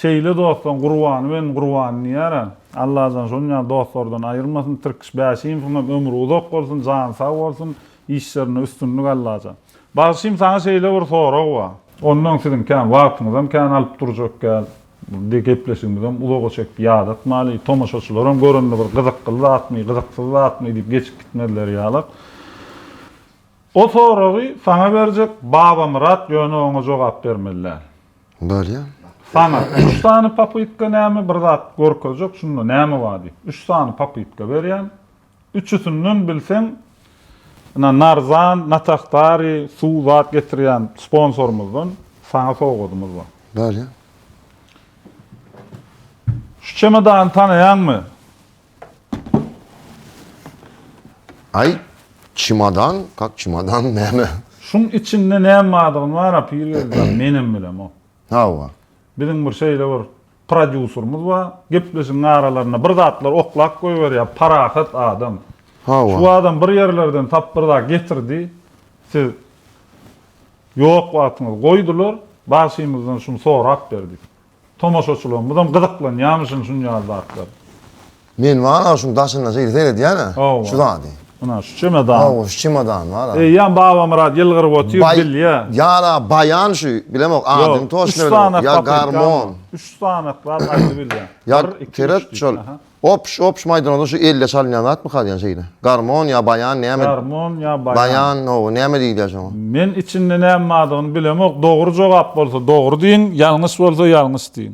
Şeýle dostlaň gurbany benim gurbany diýýärä. Allajan şonuň ýaly dostlardan aýyrmasyn Tirkiş Bäşimowyň hem ömri uzak bolsun jany sag bolsun işlerinde üstünlik Allajan. Bagşym saňa şeýle bir sorag bar. Ondan siziň kän wagtyňyzam kän alyp durjak däl. Indi gepleşigimizem uzaga çekip ýadatmaly. Tomaşaçylaram görende bir gyzykly zatmy, gyzyksyz zatmy diýip geçip gitmezler ýaly. O soragy saňa berjek Babamyrat ýöne oňa jogap bermeli däl. Bolýa. Saňa üç sany popytka näme bir zat görkezjek şunda näme bar diýip. Üç sany popytka berýän. Üçüsinden bilseň ina Narzan, Nataktari, suw zat getirýän sponsorymyzdan saňa sowgadymyz bar. Bärýä. Şu çemodany tanaýaňmy? Aý, çemodan, kak çemodan näme? Şuň içinde näme bardygyny bar-a Pirgeldi jan, menem bilemok. Hawa. Biziň bir şeýle bir Prodýuserimiz bar. Gepleşigiň aralarynda bir zatlar oklap goýberýär. Parahat adam. Hawa. Şu adam bir ýerlerden tap bir zat getirdi. Siz ýok wagtyňyzy goýdular. Bagşymyzdan şuny sorap ber diýip. Tomaşaçylarymyzam gyzyklanýamyşyn şunýaly zatlara. Men bar-a şuň daşynda şeýle seredýän-ä, şu zady. Ana, şu çemodan. Hawa, şu çemodan bar-a. Eýýäm Babamyrat ýylgyryp otyr, bilýä. Ýa-da baýan şu, bilemok, adyny toçny bilmok, ýa garmon. Üç sanatlap aýdyp. Üç sanatlap aýdyp bilýän. Ýa, seret şol. Opş, opş maýdanada şu elde çalynýan zatmyka diýen şeýle. Garmon ýa baýan näme? Garmon ýa baýan. Baýan, hawa, näme diýilýär şoňa? Men içinde näme bardygyny bilemok, dogry jogap bolsa dogry diýiň, ýalňyş bolsa ýalňyş diýiň.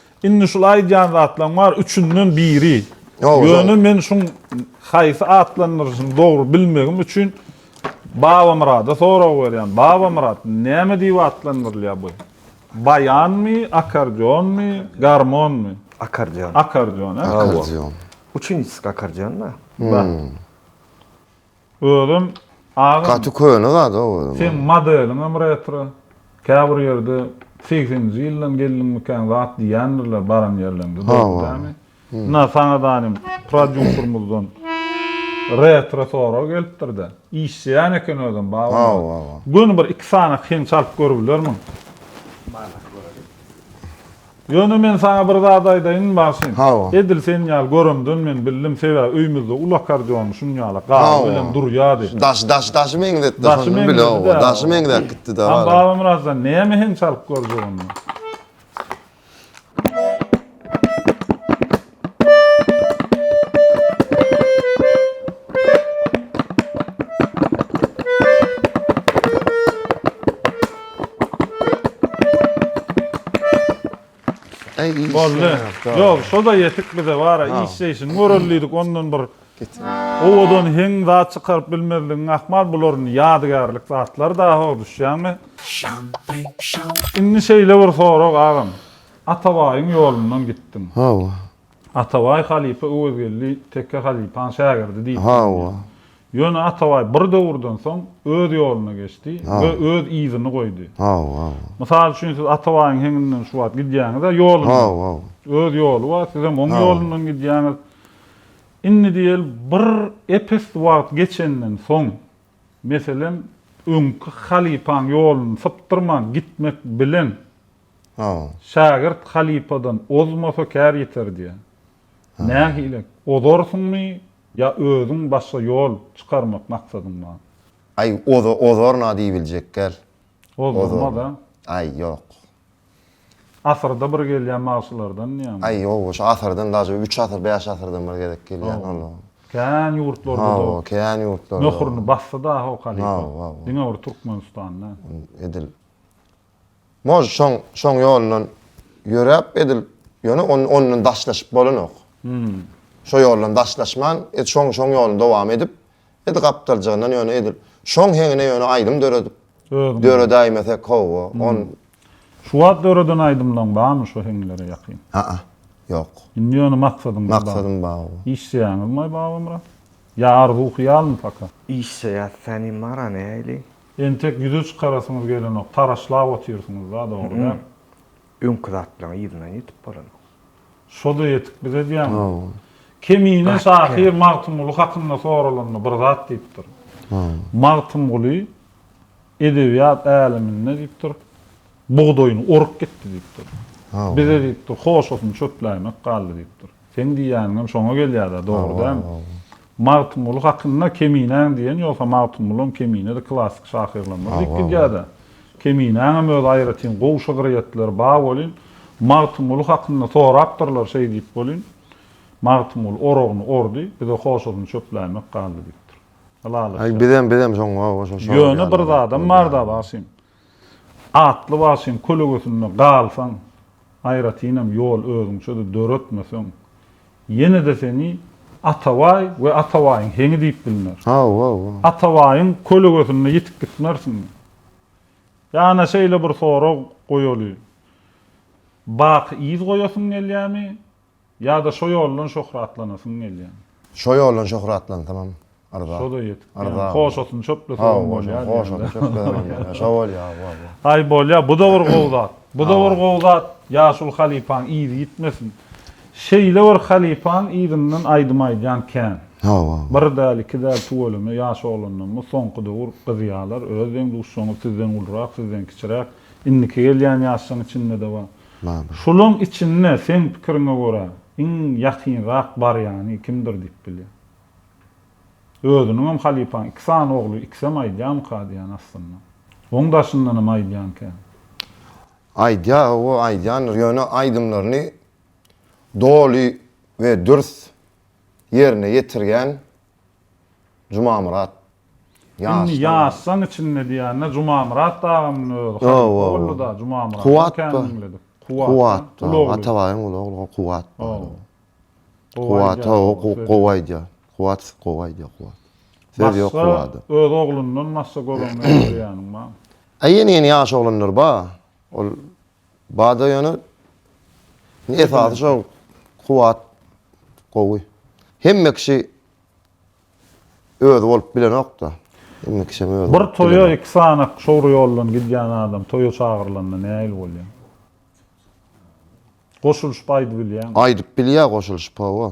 Indi şul aýdýan zatlaň bar üçünden biri. Ýöne men şuň haýsy atlandyryşyny dogry bilmegim üçin Babamyrada sorag berýän. Babamyrat, näme diýip atlandyrylýar bu? Baýanmy, akkordeonmy, garmonmy? Akkordeon. Akkordeon, hä? Akkordeon. Üçünjisi akkordeon-da. Bar. Özem agam. Gaty köne zat o özem. Seň modeliňem retro. Käbir ýerde segseninji ýyldan geldiňmikäň zat diýýändirler baran ýerleňde dogry dämi? Ynha saňa danym prodýusermyzdan retro sorag gelipdirde. Işleýän eken özem babalar. Göni bir iki sany kyn çalyp görübilermiň? Manak göreliň. Ýöne men saňa bir zat aýdaýyn, Magşym. Hawa. Edil sen ýaly göremden men bildim, sebäbi öýmüzde ul akkordeony şuň ýaly gaby bilen durýardy. Daş, daş, daşy meňzetdi. Daşy meňzedi-dä. Daşy meňzäp gitdi-dä. Hany Babamyratjan, näme hem çalyp görjek onda? Boldy. Ýok, şo-da ýetik bize bara işleýşini görelidik, ondan bir owadan heň zat çykaryp bilmezligiň ahmal, bular indi ýadygärlik zatlar daho, düşýäňmi? Indi şeýle bir sorag agam. Atabaýyň ýolundan gitdiň. Hawa. Atabaý halypa Öwezgeldi Teke halypaň şägirdi diýip Hawa. Ýöne Atabaý bir döwürden soň öz ýoluna geçdi we öz yzyny goýdy. Hawa. Mysal üçin siz Atabaýyň heňinden şu wagt gidýäňiz-ä ýolundan. Hawa. Öz ýoly bar, sizem oň ýolundan gidýäňiz. Indi diýeli bir epes wagt geçenden soň, meselem, öňki halypaň ýoluny sypdyrman gitmek bilen Hawa. Şägirt halypadan ozmasa kär ýeter diýýär. Nähili, ozarsyňmy ýa özüň başga ýol çykarmak maksadyň bar? Aý, ozaryn-a diýibiljek däl. Ozulmaz-a? Aý, ýok. Asyrda bir gelýän magşylardan ýa-mı? Aý, ýok, şu asyrdan daş bir üç asyr, bäş asyrdan bir gezek gelýän olar. Kän ýurtlarda-da. Hawa, kän ýurtlarda. Möhürini basdy dahy o halypa. Hawa, hawa. Diňe bir Türkmenistanda. Edil. Mož şoň şoň ýolundan ýöräp edil ýöne on ondan daşlaşyp bolanok. Şo ýoldan daşlaşman et şoň şoň ýolun dowam edip edi gapdaljygyndan ýöne edil şoň heňine ýöne aýdym döredip döredäýmesek howwa on Şu wagt döreden aýdymlaň barmy şo heňlere ýakyn? Aa. Ýok. Indi ýöne maksadyň bar. Maksadym bar. Işleýäňizmaý Babamyrat? Ýa arzuw hyýalmy paka? Işleýäs, säniň bara nähili? Entek ýüze çykarasyňyz gelenok, taraşlap otyrsyňyz-da, dogry däl? Öňki zatlaň yzyndan ýetip bolanok. Şo-da ýetik bize edýäňiz. Kemine şahyr Magtymguly hakynda soralanda bir zat diýipdir. Magtymguly edebiýat äleminde diýipdir, bugdaýyny orup gitdi diýipdir. Bize diýipdir, hoşasyny çöpläýmek galdy diýipdir. Seň diýýäniňem şoňa gelýär-dä, dogry dälmi? Magtymguly hakynda Keminäň diýen ýogsa Magtymgulam Keminede klassyk şahyrlarymyz diýip gidýär-dä. Keminäňem öz aýratyn gowy şygryýetleri ba welin, Magtymguly hakynda sorapdyrlar şeý diýip welin, Magtymguly oragyny ordy, bize hoşasyny çöpläýmek galdy diýipdir. Ylalaşýas. Bizem, bizem şoňa, şo, şo. Ýöne bir zadam bar-da, bagşym. Atly wagşyň kölegesinde galsaň, aýratynam ýol özüňçe-de döretmeseň, ýene-de seni Atabaý we Atabaýyň heňi diýip bilner. Hawa-hawa. Atabaýyň kölegesinde ýitip gitmersiňmi? Ýa-na şeýle bir sorag goýaly, Baky yz goýasyň gelýärmi? Ýa-da şo ýoldan şöhratlanasyň gelýär. Şo ýoldan şöhratlansamam yrza. Şo-da ýetik diýýän. Hoşatyny çöplesemem bolýar diýýän. Hoşatyny çöplesemem bolýar. Şo bolýar, bu bolýar. Aý, bolýar. Bu-da bir gowy zat. Bu-da bir gowy zat. Ýaşuly halypaň yzy ýitmesin. Şeýle bir halypaň yzyndan aýdym aýdýan kän. Hawa. Bir däl, iki däl tüweleme ýaş oglandan bu soňky döwür gyzýarlar. Öz deň-duşlaryňyz sizden ulurak, sizden kiçiräk, indiki gelýän ýaşlaryň içinde-de bar. Mama. Şulaň içinde seň pikiriňe görä iň ýakynrak barýany kimdir diýip bilýäň? Özüniňem halypaň iki sany ogly ikisem aýdýamyka diýýän aslynda. Oň daşyndanam aýdýan kän. Aýdýar owo aýdýandyr ýöne aýdymlaryny doly we dürs ýerine ýetirýän Jumamyrat. Indi ýaşjaň içinde diýende Jumamyrat dagynyň özi halypa boldy da Jumamyrat. Kuwat bar. Kuwat. Atabaýyň uly ogly Kuwat. Kuwat gowy aýdýar. Kuwat gowy aýdýar Kuwat. Söz ýok Kuwada. Öz oglundan başga göreňňe görýäniň barmy? Ýene-ýene ýaş oglanlar bar. Ol Bada ýöne esasy şo kuwwat gowy. Hemme kişi özi bolup bilenok-da. Hemme kişi hem özi bolup bilenok. Bir toýa iki sany şowry ýoldan gidýän adam toýa çagyrylanda nähili bolýar? Goşulyşyp aýdybilýärmi? Aýdyp bilýär goşulyşyp, hawa.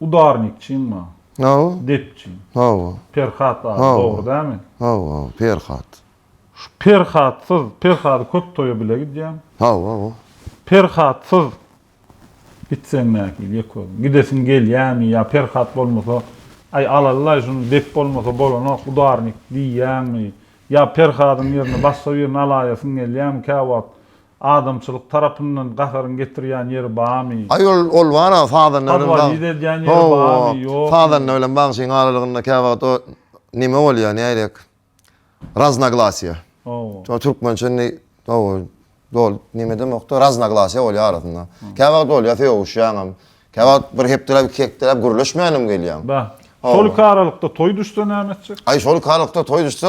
Udarnikçiňmi? Hawa. Depçiň. Hawa. Perhat ady dogry dämi? Hawa, hawa, Perhat. Şu Perhatsyz, Perhady köp toýa bile gidýäň. Hawa, hawa. Perhatsyz gitseň nähili ýeközüm? Gidesiň gelýämi ýa Perhat bolmasa, Aý, alaly-laý şuny, dep bolmasa bolanok, udarnik diýýäňmi? Ýa Perhadyň ýerine başga birini alaýasyň gelýämi käwagt? Adamçylyk tarapyndan gaharyň getirýän ýeri bamy? Aý ol ol bar-a sazanda bilen bag. Podwalýit edýän ýeri bamy, ýokmy? Sazanda bilen bagşyň aralygynda käwagt o nime bolýa nädek raznaglasýa. Hawa. Türkmençe indi hawa doly nime demokda raznaglasýa bolýa arasynda. Käwagt bolýa sögüşýäňem. Käwagt bir hepdeläp, iki hepdeläp gürleşmänem gelýäň. Bä. Şolyk aralykda toý düşse näme etjek? Aý, şolyk aralykda toý düşse.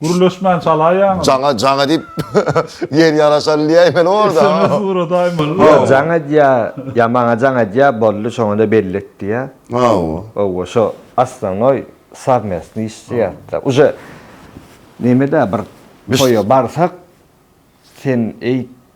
Gürleşmän çalaýaňmy? Jaňa, jaňa diýip ýer ýaraşan diýäýmeli orda. Sms ugradaýmaly. Ýa jaň edýä, ýa maňa jaň edýä, boldy, şoňa-da belli et diýä. Hawa. Hawa, şo osnonoý sowmestnyý iş zat-da. Uje neme-dä bir toýa barsak, sen eý,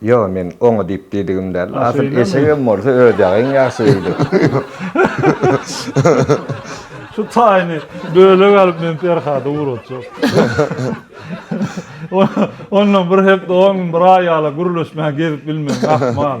Ýo, men oňa diýip diýdigim däl. A, Asyl şeýlemi? eşegem bolsa öz ýagyň ýagşy öýdüp. Şu taýyny bölek alyp men Perhada ugratjak. Ondan bir hepde, on gün, bir aý ýala gürleşmän gezip bilmegiň ahmal.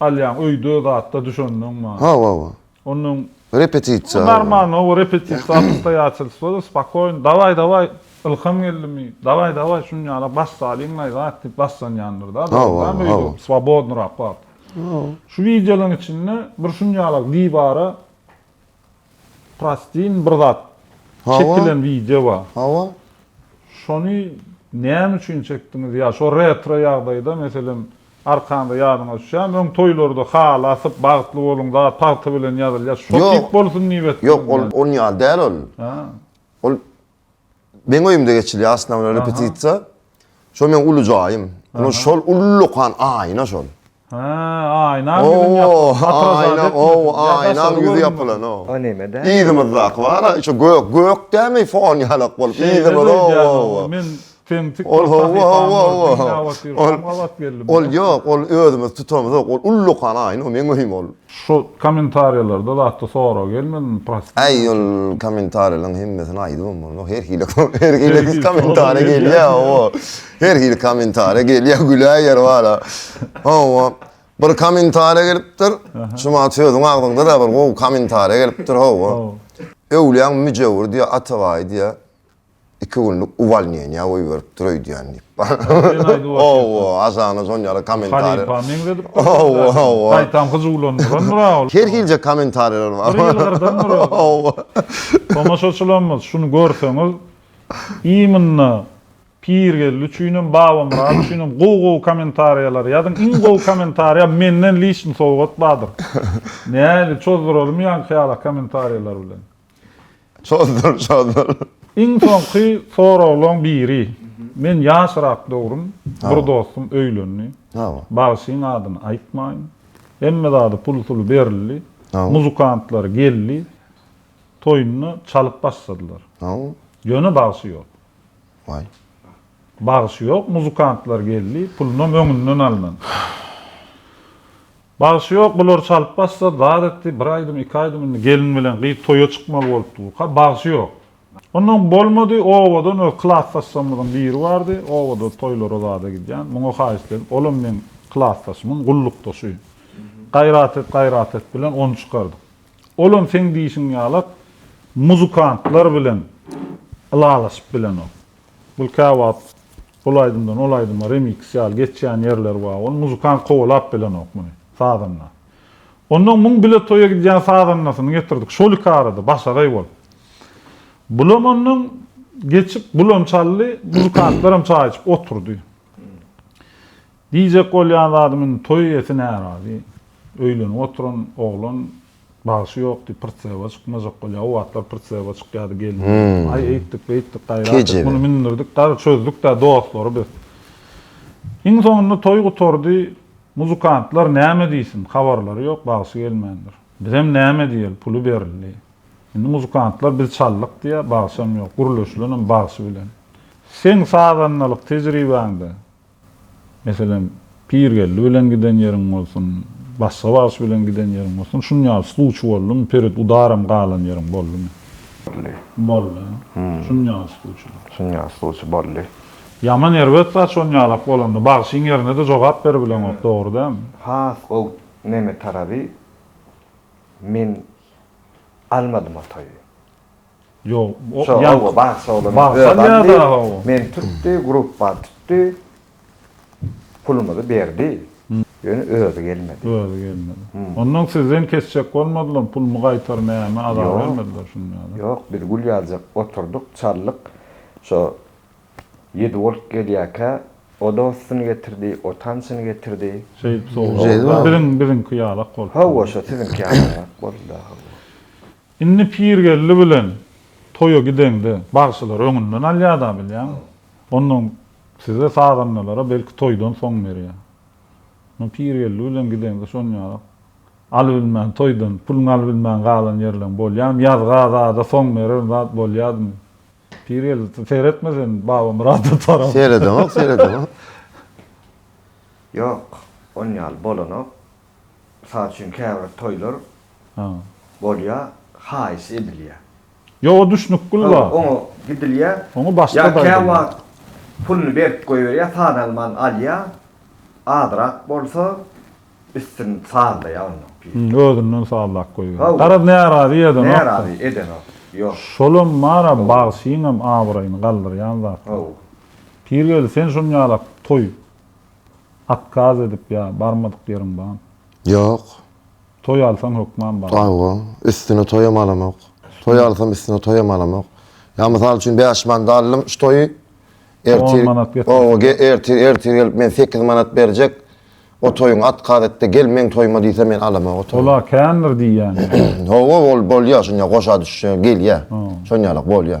Alýaň öýde zatda düşendiň ma. Hawa hawa. Ondan. Repetisiýa. Normalny hawa repetisiýa obstoýaçelstwada spokoýno dawaý dawaý ylham geldimi dawaý dawaý şuny ýala baş salyň laý zat diýip başlanýandyr da dogry däl mi öýde swobodnyrak wagt. Şu wideolaryň içinde bir şuny ýala diwara. Prostin bir zat çekilen wideo bar. Hawa. Şony näme üçin çekdiňiz? Ýa şo retro ýagdaýda meselem arkanda ýadyňa düşýärmi? Öň toýlarda haly asyp bagtly boluň zat pagta bilen ýazylýar. Şo tip bolsun diýip etdiňizmi? Ýok ol ony ýaly däl ol. Ol Meň öýümde geçilýär asnawna repetisiýa. Şol meň uly jaýym. Ol şol ullakan aýna şol. Ha, aýna ýüzüň ýapylan. O, aýna ýüzi ýapylan o. O näme-de? Yzymyzdaky bar-a, şu gök, gök dämi fon ýalak bolup. Yzymyz o. Men Kemtik bir sahypaň bor, dünýä batyr, şoň gabat geldim. Ol ýok, ol özümiz tutamyzok, ol ullakan aýyn, ol meň öýüm ol. Şu kommentariýalarda zatda sorag gelmedimi, prosti. Aý ol kommentariýalaryň hemmesini aýdybam bolmaz, her hili her hili kommentariýa gelýä hawa, her hili kommentariýa gelýä, güler ýeri bar-a. Hawa, bir kommentariýa gelipdir, şumat sözüň agzyňda-da bir gowy kommentariýa gelipdir, hawa. Öwlüýäň müjewür diýýä, Atabaý diýýä. iki günlük uwalniýeniýa goýberipdir öýdýän diýip. Sen aýdyp otyr. Hawa, Azana şon ýaly kommentariýa. Halypa meňzedipdir. Hawa, hawa. Gaýtam hyjuwlandyrandyr-a ol. Her hilje kommentariýalar bar. Bir ýylgyrdandyr ol. Hawa. Tomaşaçylarymyz, şuny görseňiz, iýmynda Pirgeldi üçinem, Babamyrat üçinem gowy-gowy kommentariýalary ýazyň. Iň gowy kommentariýa menden liçni sowgat bardyr. Nähili, çozduralymmy ýaňky ýala kommentariýalar bilen? Çozdur, çozdur. Iň soňky soraglaň biri. Men ýaşrak döwrüm bir dostum öýlendi. Bagşyň adyny aýtmaýyn. Hemme zady pul-suly berildi. Muzykantlary geldi. Toýunda çalyp başladylar. Ýöne bagşy ýok. Waý. Bagşy ýok, muzykantlar geldi, pulunam öňünden alnan. Bagşy ýok bular çalyp bassa zat etdi bir aýdym iki aýdym indi gelin bilen gyz toýa çykmaly bolupdy bu ka bagşy ýok. Ondan bolmady obadan öz klasdaşlarymyzyň biri bardy obada toýlara zada gidýän muňa haýyşt edip olam meň klasdaşymyň gullukdaşy gaýrat et gaýrat et bilen ony çykardyk olam seň diýşiň ýalak muzykantlar bilen ylalaşyp bilenok bul käwagt Ol aýdymdan ol aýdyma remix ýaly geçýän ýerleri bar ol muzykant kowalap bilenok muny sazanda onnoň muň bile toýa gidýän sazandasyny getirdik şol iki arada başagaý bolup bulam onnoň geçip bulam çaldy muzykantlaram çaý içip oturdy Diýjek bolýan zadym indi toý eýesi närazy, öýlenip oturan oglan bagşy ýok diýip pritseba çykmajak bolýar, o wagtlar pritseba çykýardy gelin gelip, aý eýtdik beýtdik gaýrat et muny mündürdik dar çözdükdä dostlary biz. Iň soňunda toý gutardy, muzykantlar näme diýsin habarlary ýok bagşy gelmändir. Bizem näme diýeli puly berildi. Indi muzykantlar biz çaldyk diýýär bagşam ýok, gürleşilenem bagşy bilen. Seň sazandalyk tejribäňde Meselem, Pirgeldi bilen giden ýeriň bolsun, başga bagşy bilen giden ýeriň bolsun, şuny ýaly sluçy boldumy, Perit udaram galan ýeriň boldumy? Boldy. Boldy. Şuny ýaly sluçy. Şuny ýaly sluçy boldy. Ýaman erbet zat şony ýalak bolanda, bagşyň ýerine-de jogap beribileňok, dogry dälmi? Has gowy neme taraby, men almadym o toýy. Ýok, o Şo ýaňky oba bagşy oglan Bagşam özan ýa-da diýip, o. meni tutdy, grupbany tutdy, pulumyzy berdi, ýöne özi gelmedi. Özi gelmedi. Onnoň sizden kesjek bolmadylarmy, pulumy gaýtar, näme, azar Ýok, bermediler şuny ýa-da? ýok, biz gül ýazjak oturdyk, çaldyk, şo Ýedi Wolk gelýärkä, o dostuny getirdi, o tançyny getirdi. Şeýdip sowgat. Şeýdibem. Biziň, biziňki ýalak bolupdyr. Hawa, şo siziňki ýalaňak boldy-da, hawa. Indi Pirgeldi bilen toýa gideňde, bagşylar öňünden alýar-da bilýäň. Onnoň size sagandalara belki toýdan soň berýär. Muny Pirgeldi bilen gideňde şonýarak alybilmän, toýdan puluny alybilmän galan ýerleň bolýamy? Ýazga zada soň berer zat bolýadymy? Pirgeldi seretme sen Babamyrada tarap. Seredemok, seredemok. Ýok, onýaly bolanok. Mysal üçin käbir toýlar bolýa haýyş edilýä. Ýok o düşnük Gülba. Oňa gidilýä. Oňa başga aýdylýa. Ýa käwagt puluny berip goýberýä saz alman alýa azrak bolsa üstün sazlaýa onda. Özünden sazlap goýberýä. Garaz närazy edenok. Närazy edenok. Ýok. Şolam bara bagşyňam abraýyny galdyrýan zatlar. Pirgeldi sen şuny ýalap toý Otkaz edip ýa barmadyk ýeriň bamy? Ýok. Toý alsaň hökman barma. Hawa, üstüne toýam alamok. Toý alsam üstüne toýam alamok. Ýa mysal üçin bäş manada aldym şu toýy. Ertir. On manat getirseler. Ertir ertir gelip men sekiz manat berjek. O toýuň otkaz etde gel meň toýuma diýse men alamok o toýy. Ola kändir diýýäňmi? Hawa ol bolýa şonýa goşa düşýä gelýä. Şonýalak bolýa.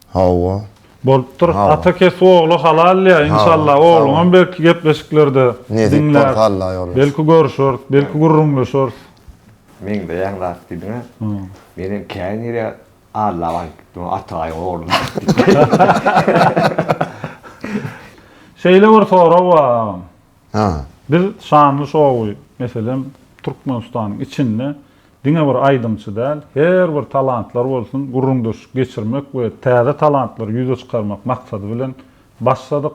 Hawa. Bolupdyr ata kes ogly halal ya inşallah ogluňam belki gepleşiklerde diňläris belki görüşeris belki gürrüňleşeris. Meňzeýäň zat diýdiňä men hem käýnire Alla baryp gitdim Atabaýyň ogluna Şeýle bir sorag bar agam. Biz şanly şowy meselem Türkmenistanyň içinde Diňe bir aýdymçy däl, her bir talantlar bolsun gürrüňdeşlik geçirmek we täze talantlary ýüze çykarmak maksady bilen başladyk.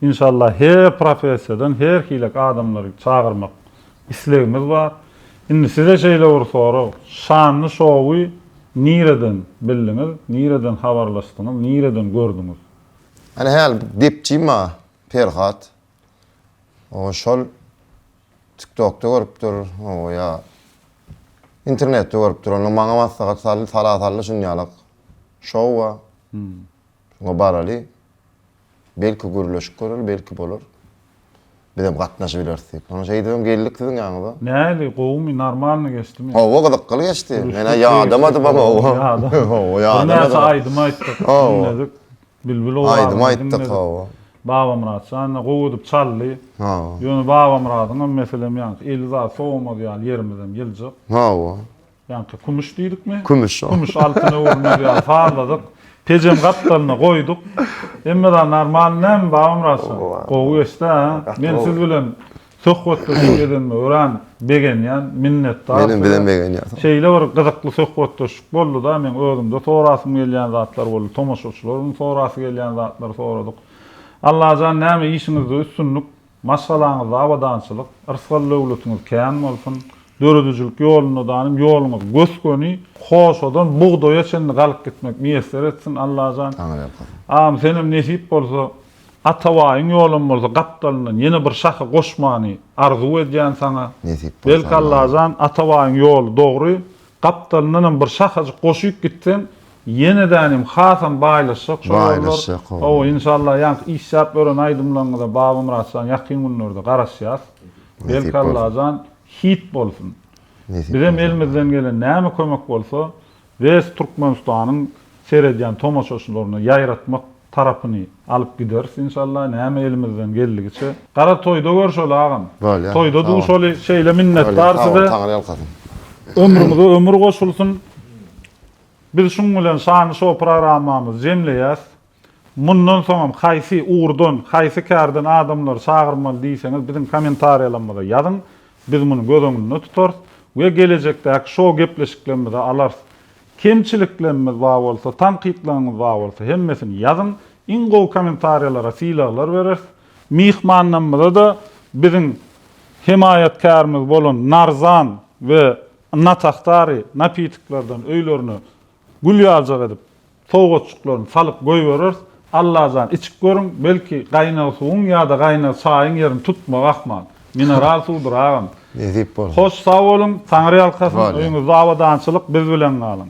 Inşallah her professiýadan her hilek adamlary çagyrmak islegimiz bar. Indi size şeýle bir sorag, şanly şowy nireden bildiňiz, nireden habarlaşdyňyz, nireden gördüňiz? Ana hal gepçi maňa Perhat. Oňa şol. Tiktokda görüpdir, ooo ýa internetde görüpdir, onda maňa maslahat saldy, sala saldy şunýalak şowa. Şoňa baraly. Belki gürleşip göreli, belki bolar. Bizem gatnaşyp bileris diýip. Soň şeýdibem geldik siziň ýanyňyza. Nähili, gowumy, normalny geçdimi? Hawa, gyzykly geçdi. Men-ä ýadamadymam, hawa. Ýadamadym. Birnäçe aýdym aýtdyk, diňledik. Bilbil owazyny diňledik. Babamyrat jan-a gowy edip çaldy. Hawa. Ýöne Babamyradyňam meselem ýaňky eli zat sowamaz ýaly ýerimizem ýyljyk. Hawa. Ýaňky kümüş diýdikmi? Kümüş. Kümüş altyna öwrülmez ýaly sazladyk. Pejem gapdalyna goýduk. Hemme zat normalny näme Babamyrat jan? Gowy geçdi-ä. Men siz bilen Söhbetdeşlik edenime örän begenýän, minnetdar Menem size. begenýän. Şeýle bir gyzykly söhbetdeşlik bolduda, meň özümde sorasym gelýän zatlar boldy, tomaşaçylaryň sorasy gelýän zatlary soradyk. Allajan näme işiňizde üstünlik, maşgalaňyzda abadançylyk, yrsgal-döwletiňiz kän bolsun. Döredijilik ýolunda danym ýoluňyz gös-göni, hoşadan bugdaýa çenli galyp gitmek miýesser etsin Allajan. Agam senem nesip bolsa Atabaýyň ýolam bolsa gapdalyndan ýene bir şahy goşmany arzuw edýän saňa. Nesip bolsa Belki Allajan. Allajan Atabaýyň ýoly dogry gapdalyndanam bir şahajyk goşyp gitseň ýenedänem hasam baýlaşjak şol ýollar. Baýlaşjak hawa. Hawa inşallah ýaňky işläp ören aýdymlaryňyza Babamyratjan ýakyn günlerde garaşýas. Belki Allajan hit bolsun. Nesip Bizem bolsa. elimizden gelen näme kömek bolsa Biz Türkmenistanyň seredýän tomaşaçylaryna ýaýratmak tarapyny alyp gideris inşallah näme elimizden geldigiçe. Gara toýda görşeli agam. Bolýa. Toýda duşaly şeýle minnetdar size. Bolýa sag boluň taňry ýalkasyn. Ömrüňize ömür goşulsyn. Biz şuň bilen şany şou programmamyzy jemleýäs. Mundan soňam haýsy ugurdan, haýsy kärden adamlary çagyrmaly diýseňiz biziň kommentariýalarymyza ýazyň, biz muny göz öňünde tutarys we gelejekdäki şou gepleşiklerimize alarys. Kemçiliklerimiz bar bolsa, tankytlaryňyz bar bolsa hemmesini ýazyň, iň gowy kommentariýalara sylaglar bereris. Myhmanlarymyza-da biziň hemaýatkärimiz bolan Narzan we Natahtaryy napitiklerden öýlerine gül ýaljak edip Sowgatjyklaryny salyp goýbereris. Allajan içip görüň, belki gaýnag suwuň ýa-da gaýnag çaýyň ýerini tutmag ahmal. Mineral suwdur agam. Nesip bolsa. Hoş sag boluň, Taňryýalkasyn, öýüňizde abadançylyk, biz bilen galyň.